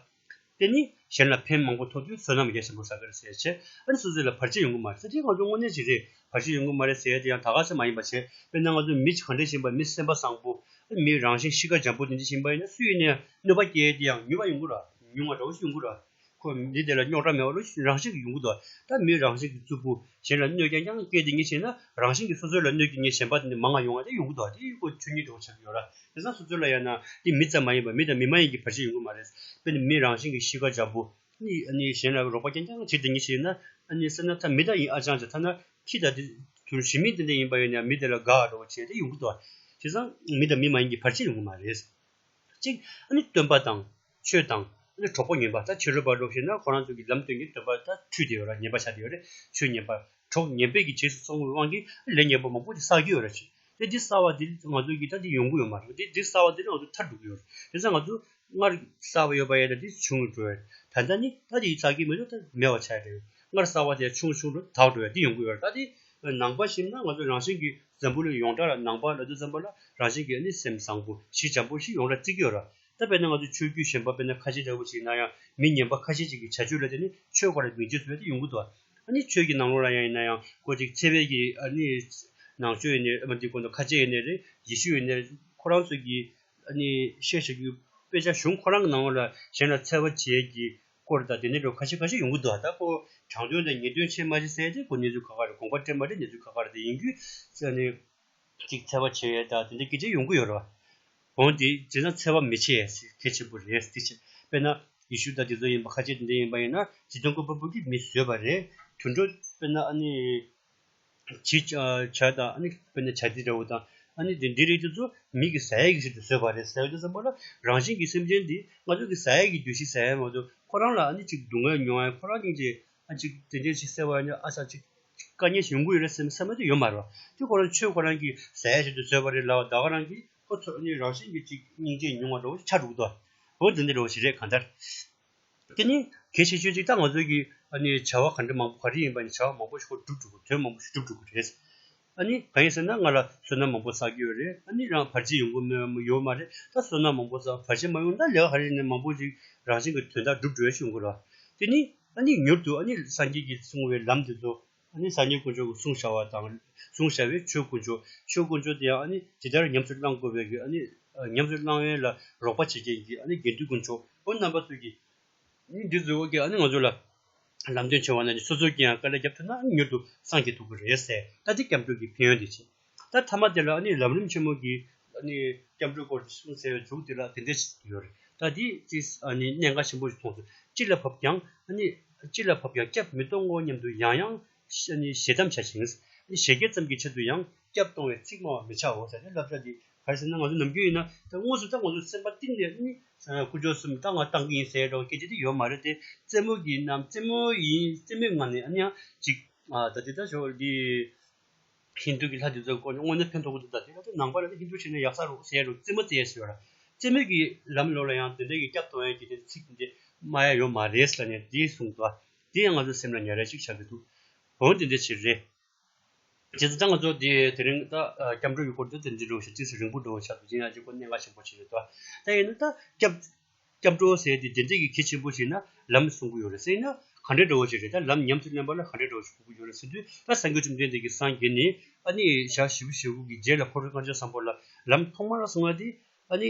[SPEAKER 1] དེ་ནི་གཞན་ལ་ཕན་མང་པོ་ཐོགས་དུས་བསོད་ནམས་རྒྱ་ཆེན་པོ་བསགས་པའི་ཟས་བྱེད་ཨ་རི་སོ་སོའི་ལ་བར་ཆད་ཡོང་གི་མ་རེད་ཟས་དེ་གང་བྱུང་དངོས་གནས་ཅིག་རེད་བར་ཆད་ཡོང་གི་མ་རེད་ཟས་དེ་ཡང་ད་ག་ཟས་མ་ཡིན་པ་བྱས་དཔེར་ན་ང་ཚོ་མི་གང་འདྲས་བཞིན་པ་མི་སེམས་པ་བཟང་པོ་ཨ་མིའི་རང་བཞིན་གཤིས་ཀ་འཇམ་པོ་དེ་འདྲས་བཞིན་པ་ཡིན་ན་སུས་ཡིན་ནས་གནོད་པ་སྐྱེལ་དེ་ཡང་ཉུལ་བ་ཡོང་གི་ར་ཉུང་བ་འདྲ་བོ་ཞིག་ཡོང་གི་ར་ཁོ་མི་དེ་ལ་རྙོག་དྲ་མེད་བ་ལོ་རང་བཞིན་གྱི་ཡོང་གི་འདུག་ད་མིའི་རང་བཞིན་གྱི་རྩུབ་པོ་གཞན་ལ་གནོད་ཀྱང་ཀྱང་སྐད་དེ་ཉིད་ཤེས་ན་རང་བཞིན་གྱིས་སོ་སོའི་ལ་གནོད་ཀྱི་ཉེས་ཞན་པ་དེ་ནི་མ་ང་ཡོང་བ་དེ་ཡོང་གི་འདུག་དེ་ཡོད་ཁོ་ཆོས་ཉིད་འགྲོ་བ་ཆགས་ཀྱི་ཡོད་ར་དེ་སང་སོ་སོའི་ལ་ཡང་ན་དེ་མི་ཙམ་མ་ཡིན་པར་མི་དང་མི་མ་ཡིན་གྱི་བར་ཆད་ཡོང་གི་མ་རེད་དཔེར་ན་མི་རང་བཞིན་གྱིས་གཤིས་ཀ་འཇམ་པོ། གཞན་ལ་རོགས་པ་ཀྱང་ཀྱང་བྱེད་དེ་ཉིད་ཤེས་ན། སེམས་ན་ཐ་མི་དག་ཡིན་ཨ་ཅང་ཅང་ཐ་ན་ཁྱི་དང་དེ། དུར་ཞི་མིན་དེ་འདྲ་ཡིན་པ་ཡིན་ཡང་མི་དེ་ལ་དགའ་འོ་འགྲོ་བ་བྱེད་དེ་ཡོང་གི་འདུག་དེ་སང་མི་དང་མི་མ་ཡིན་གྱི་བར་ཆད་ཡོང་གི་མ་རེད། གཅིག། སྟོན་པ་དང། ཆོས་དང། ཨ་ནི་གྲོགས་པོ་ངན་པ་ད་ཕྱི་རོལ་པར་ལོག་ཤེས་ན་ཁོ་རང་ཚོ་གི་ལམ་སྟོན་གྱི་འདོད་པ་ད་འཁྲུལ་དེ་ཡོད་ར་ཉན་པ་བྱ་དེ་ཡོད་རེད་ཆོས་ཉན་པ། གྲོགས་ཉན་པའི་གི་བྱེས་སུ་སོང་བའི་དབང་གིས་ཨ་ལས་ཉན་པ་མང་པོ་དེ་བསགས་ཀྱི་ཡོད་ར་བྱས། དེ་དེ་བསགས་བ་དེ་ང་ཚོ་གི་ད་དེ་ཡོང་གི་ཡོད་མ་རེད་དེ་དེ་བསགས་བ་དེ་ང་ཚོ་ཐར་འགྲོ་གི་ཡོད་རེད་དེ་ས་ང་ཚོ་སྔར་བསགས་བ་ཡོད་པ་ཡས་ད་དེ་ཆུང་ངུ་འགྲོ་ཡས་ད་ད་ནི་ད་དེ་བསགས་ཀྱི་མེད་དུ་ད་མེད་བ་བྱས་དེ་སྔར་བསགས་བ་དེ་ཆུང་ཆུང་འགྲོ་དག་འགྲོ་ཡས་དེ་ཡོང་གི་ཡོད་རེད་ད་དེ། ནང་པ་ཞིབ་ན་ང་ཚོ་རང་བཞིན་གི་འཛམ་བུ་ལ་ཡོངས་གྲགས་ལ་ནང་པ་ལ་དུ་འཛམ་བུ་ལ་རང་བཞིན་གི་ཨ་ནི་སེམས་བཟང་པོ་གཞི་འཇམ་པོ་ཞིག་ཡོངས་གྲགས་བརྩི་གི་ཡོད་ར་ད་དཔེར་ན་ང་ཚོས་ཆོས་བརྒྱུད་གཞན་པ་དཔེར་ན་ཁ་ཆེ་འདྲ་བོ་ཞིག་ན་ཡང་མི་ཉན་པ་ཁ་ཤས་ཅིག་གི་བྱ་སྤྱོད་ལ་བརྟེན་ནས་ཆོས་ག་རེ་མི་བརྗོད་ཟེར་བ་དེ་ཡོང་གི་འདུག་ཨ་ནི་ཆོས་ཀྱི་ནང་ལོགས་ལ་ཡང་ཡིན་ན་ཡང་ཁོ་ཅིག་ཚེ་བས་ཀྱི་ཨ་ནི་ནང་ཆོས་ཡིན་ནས་ཨ་མ་འདི་དགོངས་དོན་ཁ་ཆེ་ཡིན་ནས་རེད་ཡེ་ཤུ་ཡིན་ནས་རེད་ཁོ་རང་ཚོས་ཀྱིས་ཨ་ནི་བཤད་བྱ་རྒྱུ་དཔེ་ཆ་གཞུང་ཁོ་རང་གི་ནང་ལོགས་ལ་གཞན་ལ་འཚེ་བ་བྱས་ཀྱི་སྐོར་དང་དེ་འདྲ་བའི་ཁ་ཤས་ཁ་ཤས་ཡོང་གི་འདུག་ད་ཁོ་དྲང་དོན་དང་ངེས་དོན་ཆེད་མ་བྱེད་ཟེར་ཡ་དེ་ཁོ་གནས་ཚུལ་ཁ་ཁ་རེད་དགོངས་པ་འགྲེལ་མ་འགྲེལ་གནས་ཚུལ་ཁ་ཁ་རེད་དེ་ཡིན་རྒྱུ་ཨ་ནི། གཅིག་འཚེ་བ་བྱེད་ཡས་དང་དེ་འདྲའི་སྐད་ཆ་ཡོང་གི་ཡོད་རེད། གང་དེ་བྱས་ན་འཚེ་བ་མི་བྱེད་ཡས་ཟེར་གལ་ཆེན་པོ་རེད་ཟེར་ཆེད་དཔེར་ན་ཡེ་ཤུ་དང་དེ་ཚོ་ཡིན་པ་ཁ་ཆེ་དེ་འདྲ་ཡིན་པ་ཡིན་ན་བྱིས་སྟོང་སྐུ་པར་བུ་གིས་མི་བཟོས་པ་རེད་དུད་འགྲོ་དཔེར་ན་ཨ་ནི་བྱིས་བྱ་དང་ཨ་ནི་དཔེར་ན་བྱ་དེ་འདྲ་བོ་དང་ཨ་ནི་དེ་འདྲའི་རིགས་དེ་ཚོ་མིག་གི་ཟ་ཡས་ཀྱི་ཕྱིར་དུ་བཟོས་པ་རེད་ཟེར་དུས་སམ་པོ་ལ་རང་བཞིན་གྱི་སེམས་ཅན་འདི་ང་ཚོ་གི་ཟ་ཡས་ཀྱི་རྒྱུ་ཞིག་ཟ་ཡས་མ་གཏོགས་ཁོ་རང་ལ་ཨ་ནི་ཅིག་སྡུག་བསྔལ་མྱོང་ཡས་ཁོ་རང་གཉིས་ཀྱི་ཨ་ཅིག་དེ་འདྲའི་ཅིག་ཟེར་བ་ནི་ཨ་ཙག་ཅིག་བཀའ་ཉན་བྱུང་གི་ཡོད་རེད་སེམས་སེམས་པ་དེ་ཡོད་མ་རེད་བ། དེ་ཁོ་རང་ཆོས་ཁོ་རང་གི་ཟས་ཟེར་དུ་བཟོས་པ་རེད་ལ་ད་ཁོ་རང་གིས་ཁོ་ཚོ་ནི་རང་བཞིན་གྱི་ཅིག་སྙིང་རྗེ་ཉུང་བ་འདྲ་བོ་ཆགས་འདུག་དོ། བོད་འདི་འདྲ་བོ་ཞིག་རེད་གང་ལྟར། དེ་ནི་གལ་ཆེ་ཤོས་ཅིག་ད་ང་ཚོའི་གིས་བྱ་བ་ག་འདྲ་མང་པོ་ག་རེ་ཡིན་པ་ནི་བྱ་བ་མང་པོ་ཞིག་ཁོ་བསྒྲུབས་འགྲོ་དགོས་དོན་མང་པོ་ཞིག་བསྒྲུབས་འགྲོ་དགོས་རེད། ཨ་ནི་གང་ཡིན་ཟེར་ན་ང་ལ་བསོད་ནམས་མང་པོ་བསགས་ཀྱི་ཡོད་རེད་ཨ་ནི་རང་བར་ཆད་ཡོང་གི་མོད་ཡོད་མ་རེད་ད་བསོད་ནམས་མང་པོ་བསགས་བར་ཆད་མ་ཡོང་ད་ལེགས་ཧ་རེད་ནས་མང་པོ་ཞིག་རང་བཞིན་གྱི་དོན་དག་སྒྲུབ་འགྲོ་ཡ་ཤོད་འགོ་ར་དེ་ནི་ཨ་ནི་མྱུར་དུ་ཨ་ནི་སངས་རྒྱས་ཀྱིས་གསུངས་བའི་ལམ་དེ་ཚོ་ཨ་ནི་སངས་རྒྱས་དཀོན་མཆོག་གི་གསུང་བྱ་བ་དང་གསུང་བྱ་བའི་ཆོས་དཀོན་མཆོག་ཆོས་དཀོན་མཆོག་དེ་ཡང་ཨ་ནི་ཇི་ལྟར་ཉམས་སུ་བླང་དགོས་པའི་གི་ཨ་ནི་ཉམས་སུ་བླང་ཡོན་ལ་རོགས་པ་བྱེད་མཁན་གྱི་ཨ་ནི་དགེ་འདུན་དཀོན་མཆོག་ཁོང་རྣམ་པ་ཚོས་ཀྱི་འདི་ཚོའི་དབུ་རྒྱན་ཨ་ནི་ང་ཚོ་ལ་ལམ་སྟོན་བྱེད་བ་ན་ནི་སོ་སོའི་རྒྱན་ཡང་དཀའ་ལས་རྒྱབ་ཐུབ་ན་ཨ་ནི་མྱུར་དུ་སངས་རྒྱས་ཐུབ་ཀྱི་རེད་ཟེར་ད་ལྟའི་སྐྱབས་འགྲོ་གི་ཕན་ཡོན་དེ་ཅི། ད་མཐའ་མ་དེ་ལ་ཨ་ནི་ལམ་རིམ་ཆེན་མོ་གི་ཨ་ནི་སྐྱབས་འགྲོའི་སྐོར་དེ་གསུང་ཟེར་བའི་མཇུག་དེ་ལ་དེ་འདྲས་བྱེད་ཀྱི་ཡོད་རེད་ད་འདིས་ཅི་ཨ་ནི་གནད་འགག་ཆེན་པོ་ཞིག་མཐོང་ཐུབ་ཅི་ལ་བབ་ཀྱང་ཨ་ནི་ཅི་ལ་བབ་ཀྱང་སྐྱབས་མི་གཏོང་ངོ་སྙམ་དུ་ཡང་ཡང་ཞེ་འདམ་བྱ་ཞིང། ཞེ་བརྒྱད་ཙམ་གྱི་ཆེད་དུ་ཡང་སྐྱབས་གཏོང་བའི་ཚིག་སྨྲ་བར་མི་བྱའོ་ཟེར་ནས་བསླབ་བྱ་འདི་ག་རེ་ཟེར་ན་ང་ཚོ་ནམ་རྒྱུན་ཡིན་ན་དངོས་སུ་ད་ང་ཚོ་སེམས་པ་གཏིང་ནས་ནི་ཀུ་ཅོ་གསུམ་ད་ང་བཏང་གི་ཡིན་ཟེར་རོགས་སྐད་ཆ་དེ་ཡོད་མ་རེད་དེ་རྩེད་མོ་གི་ནམ་རྩེད་མོ་ཡིན་རྩེད་མོའི་ངང་ནས་ཨ་ནི་ཡང་ཅིག་ད་དེ་ལྟར་བྱོས་འདི་ཧིན་དུ་གི་ལྷ་དེ་ཚོ་དཀོན་མཆོག་དངོས་གནས་ཕན་ཐོག་གི་འདུག་ད་དེ་ལྟར་ནང་པ་རེད་ཧིན་དུ་བྱས་ན་ཡག་ས་རོགས་ཟེར་རོགས་རྩེད་མོ་རྩེས་ཟེར་བ་ར་རྩེད་མོ་གི་ལམ་ལོག་ལ་ཡང་དོན་ལྡན་གྱི་སྐྱབས་དོང་ཡན་གྱི་དེ་ཚིག་དེ་སྨྲ་ཡ་ཡོད་མ་རེད་ལ་ནས་དེ་གསུངས་ད་དེ་ཡང་ང་ཚོ་སེམས་ལ་ཉར་ར་ཅིག་བྱ་གི་འདུག་འོན་ཏེ་འདི་ཕྱིར་རེད་རྗེ་བཙུན་སངྒྷ་མཆོག་དེས་དེ་རིང་ད་སྐྱབས་འགྲོ་ཡུལ་སྐོར་དུ་དེ་འདྲའི་འགྲོ་བ་ཞིག་བརྩིས་ཚེ་རིང་པོ་འགྲོ་བ་ཆགས་འདུག་ཅི་ཡང་ཅི་དགོས་གནད་འགག་ཆེན་པོ་ཞིག་རེད་དོ། དེ་ཡིན་ན་ད་སྐྱབས་སྐྱབས་འགྲོ་ཟེར་དེ་བདེན་ཚིག་གི་གལ་ཆེན་པོ་ཞིག་ན་ལམ་གསུང་གི་ཡོད་རེད་ཟེར་ན་ག་འདྲའི་འགྲོ་བ་ཞིག་རེད་ད་ལམ་ཉམས་སུ་ལེན་པ་ལ་ག་འདྲའི་འགྲོ་བ་ཞིག་ཁུག་གི་ཡོད་རེད་ཟེར་དུས་ད་སངས་རྒྱས་བཅོམ་ལྡན་འདས་ཀྱི་སངས་རྒྱས་ནི་ཨ་ནི་ཞག་བཞི་བཞི་དགུ་གི་རྗེས་ལ་འཁོར་བའི་སྔ་ལྗང་བཟང་པོ་ལ་ལམ་ཐོག་མར་གསུང་བ་དེ་ཨ་ནི།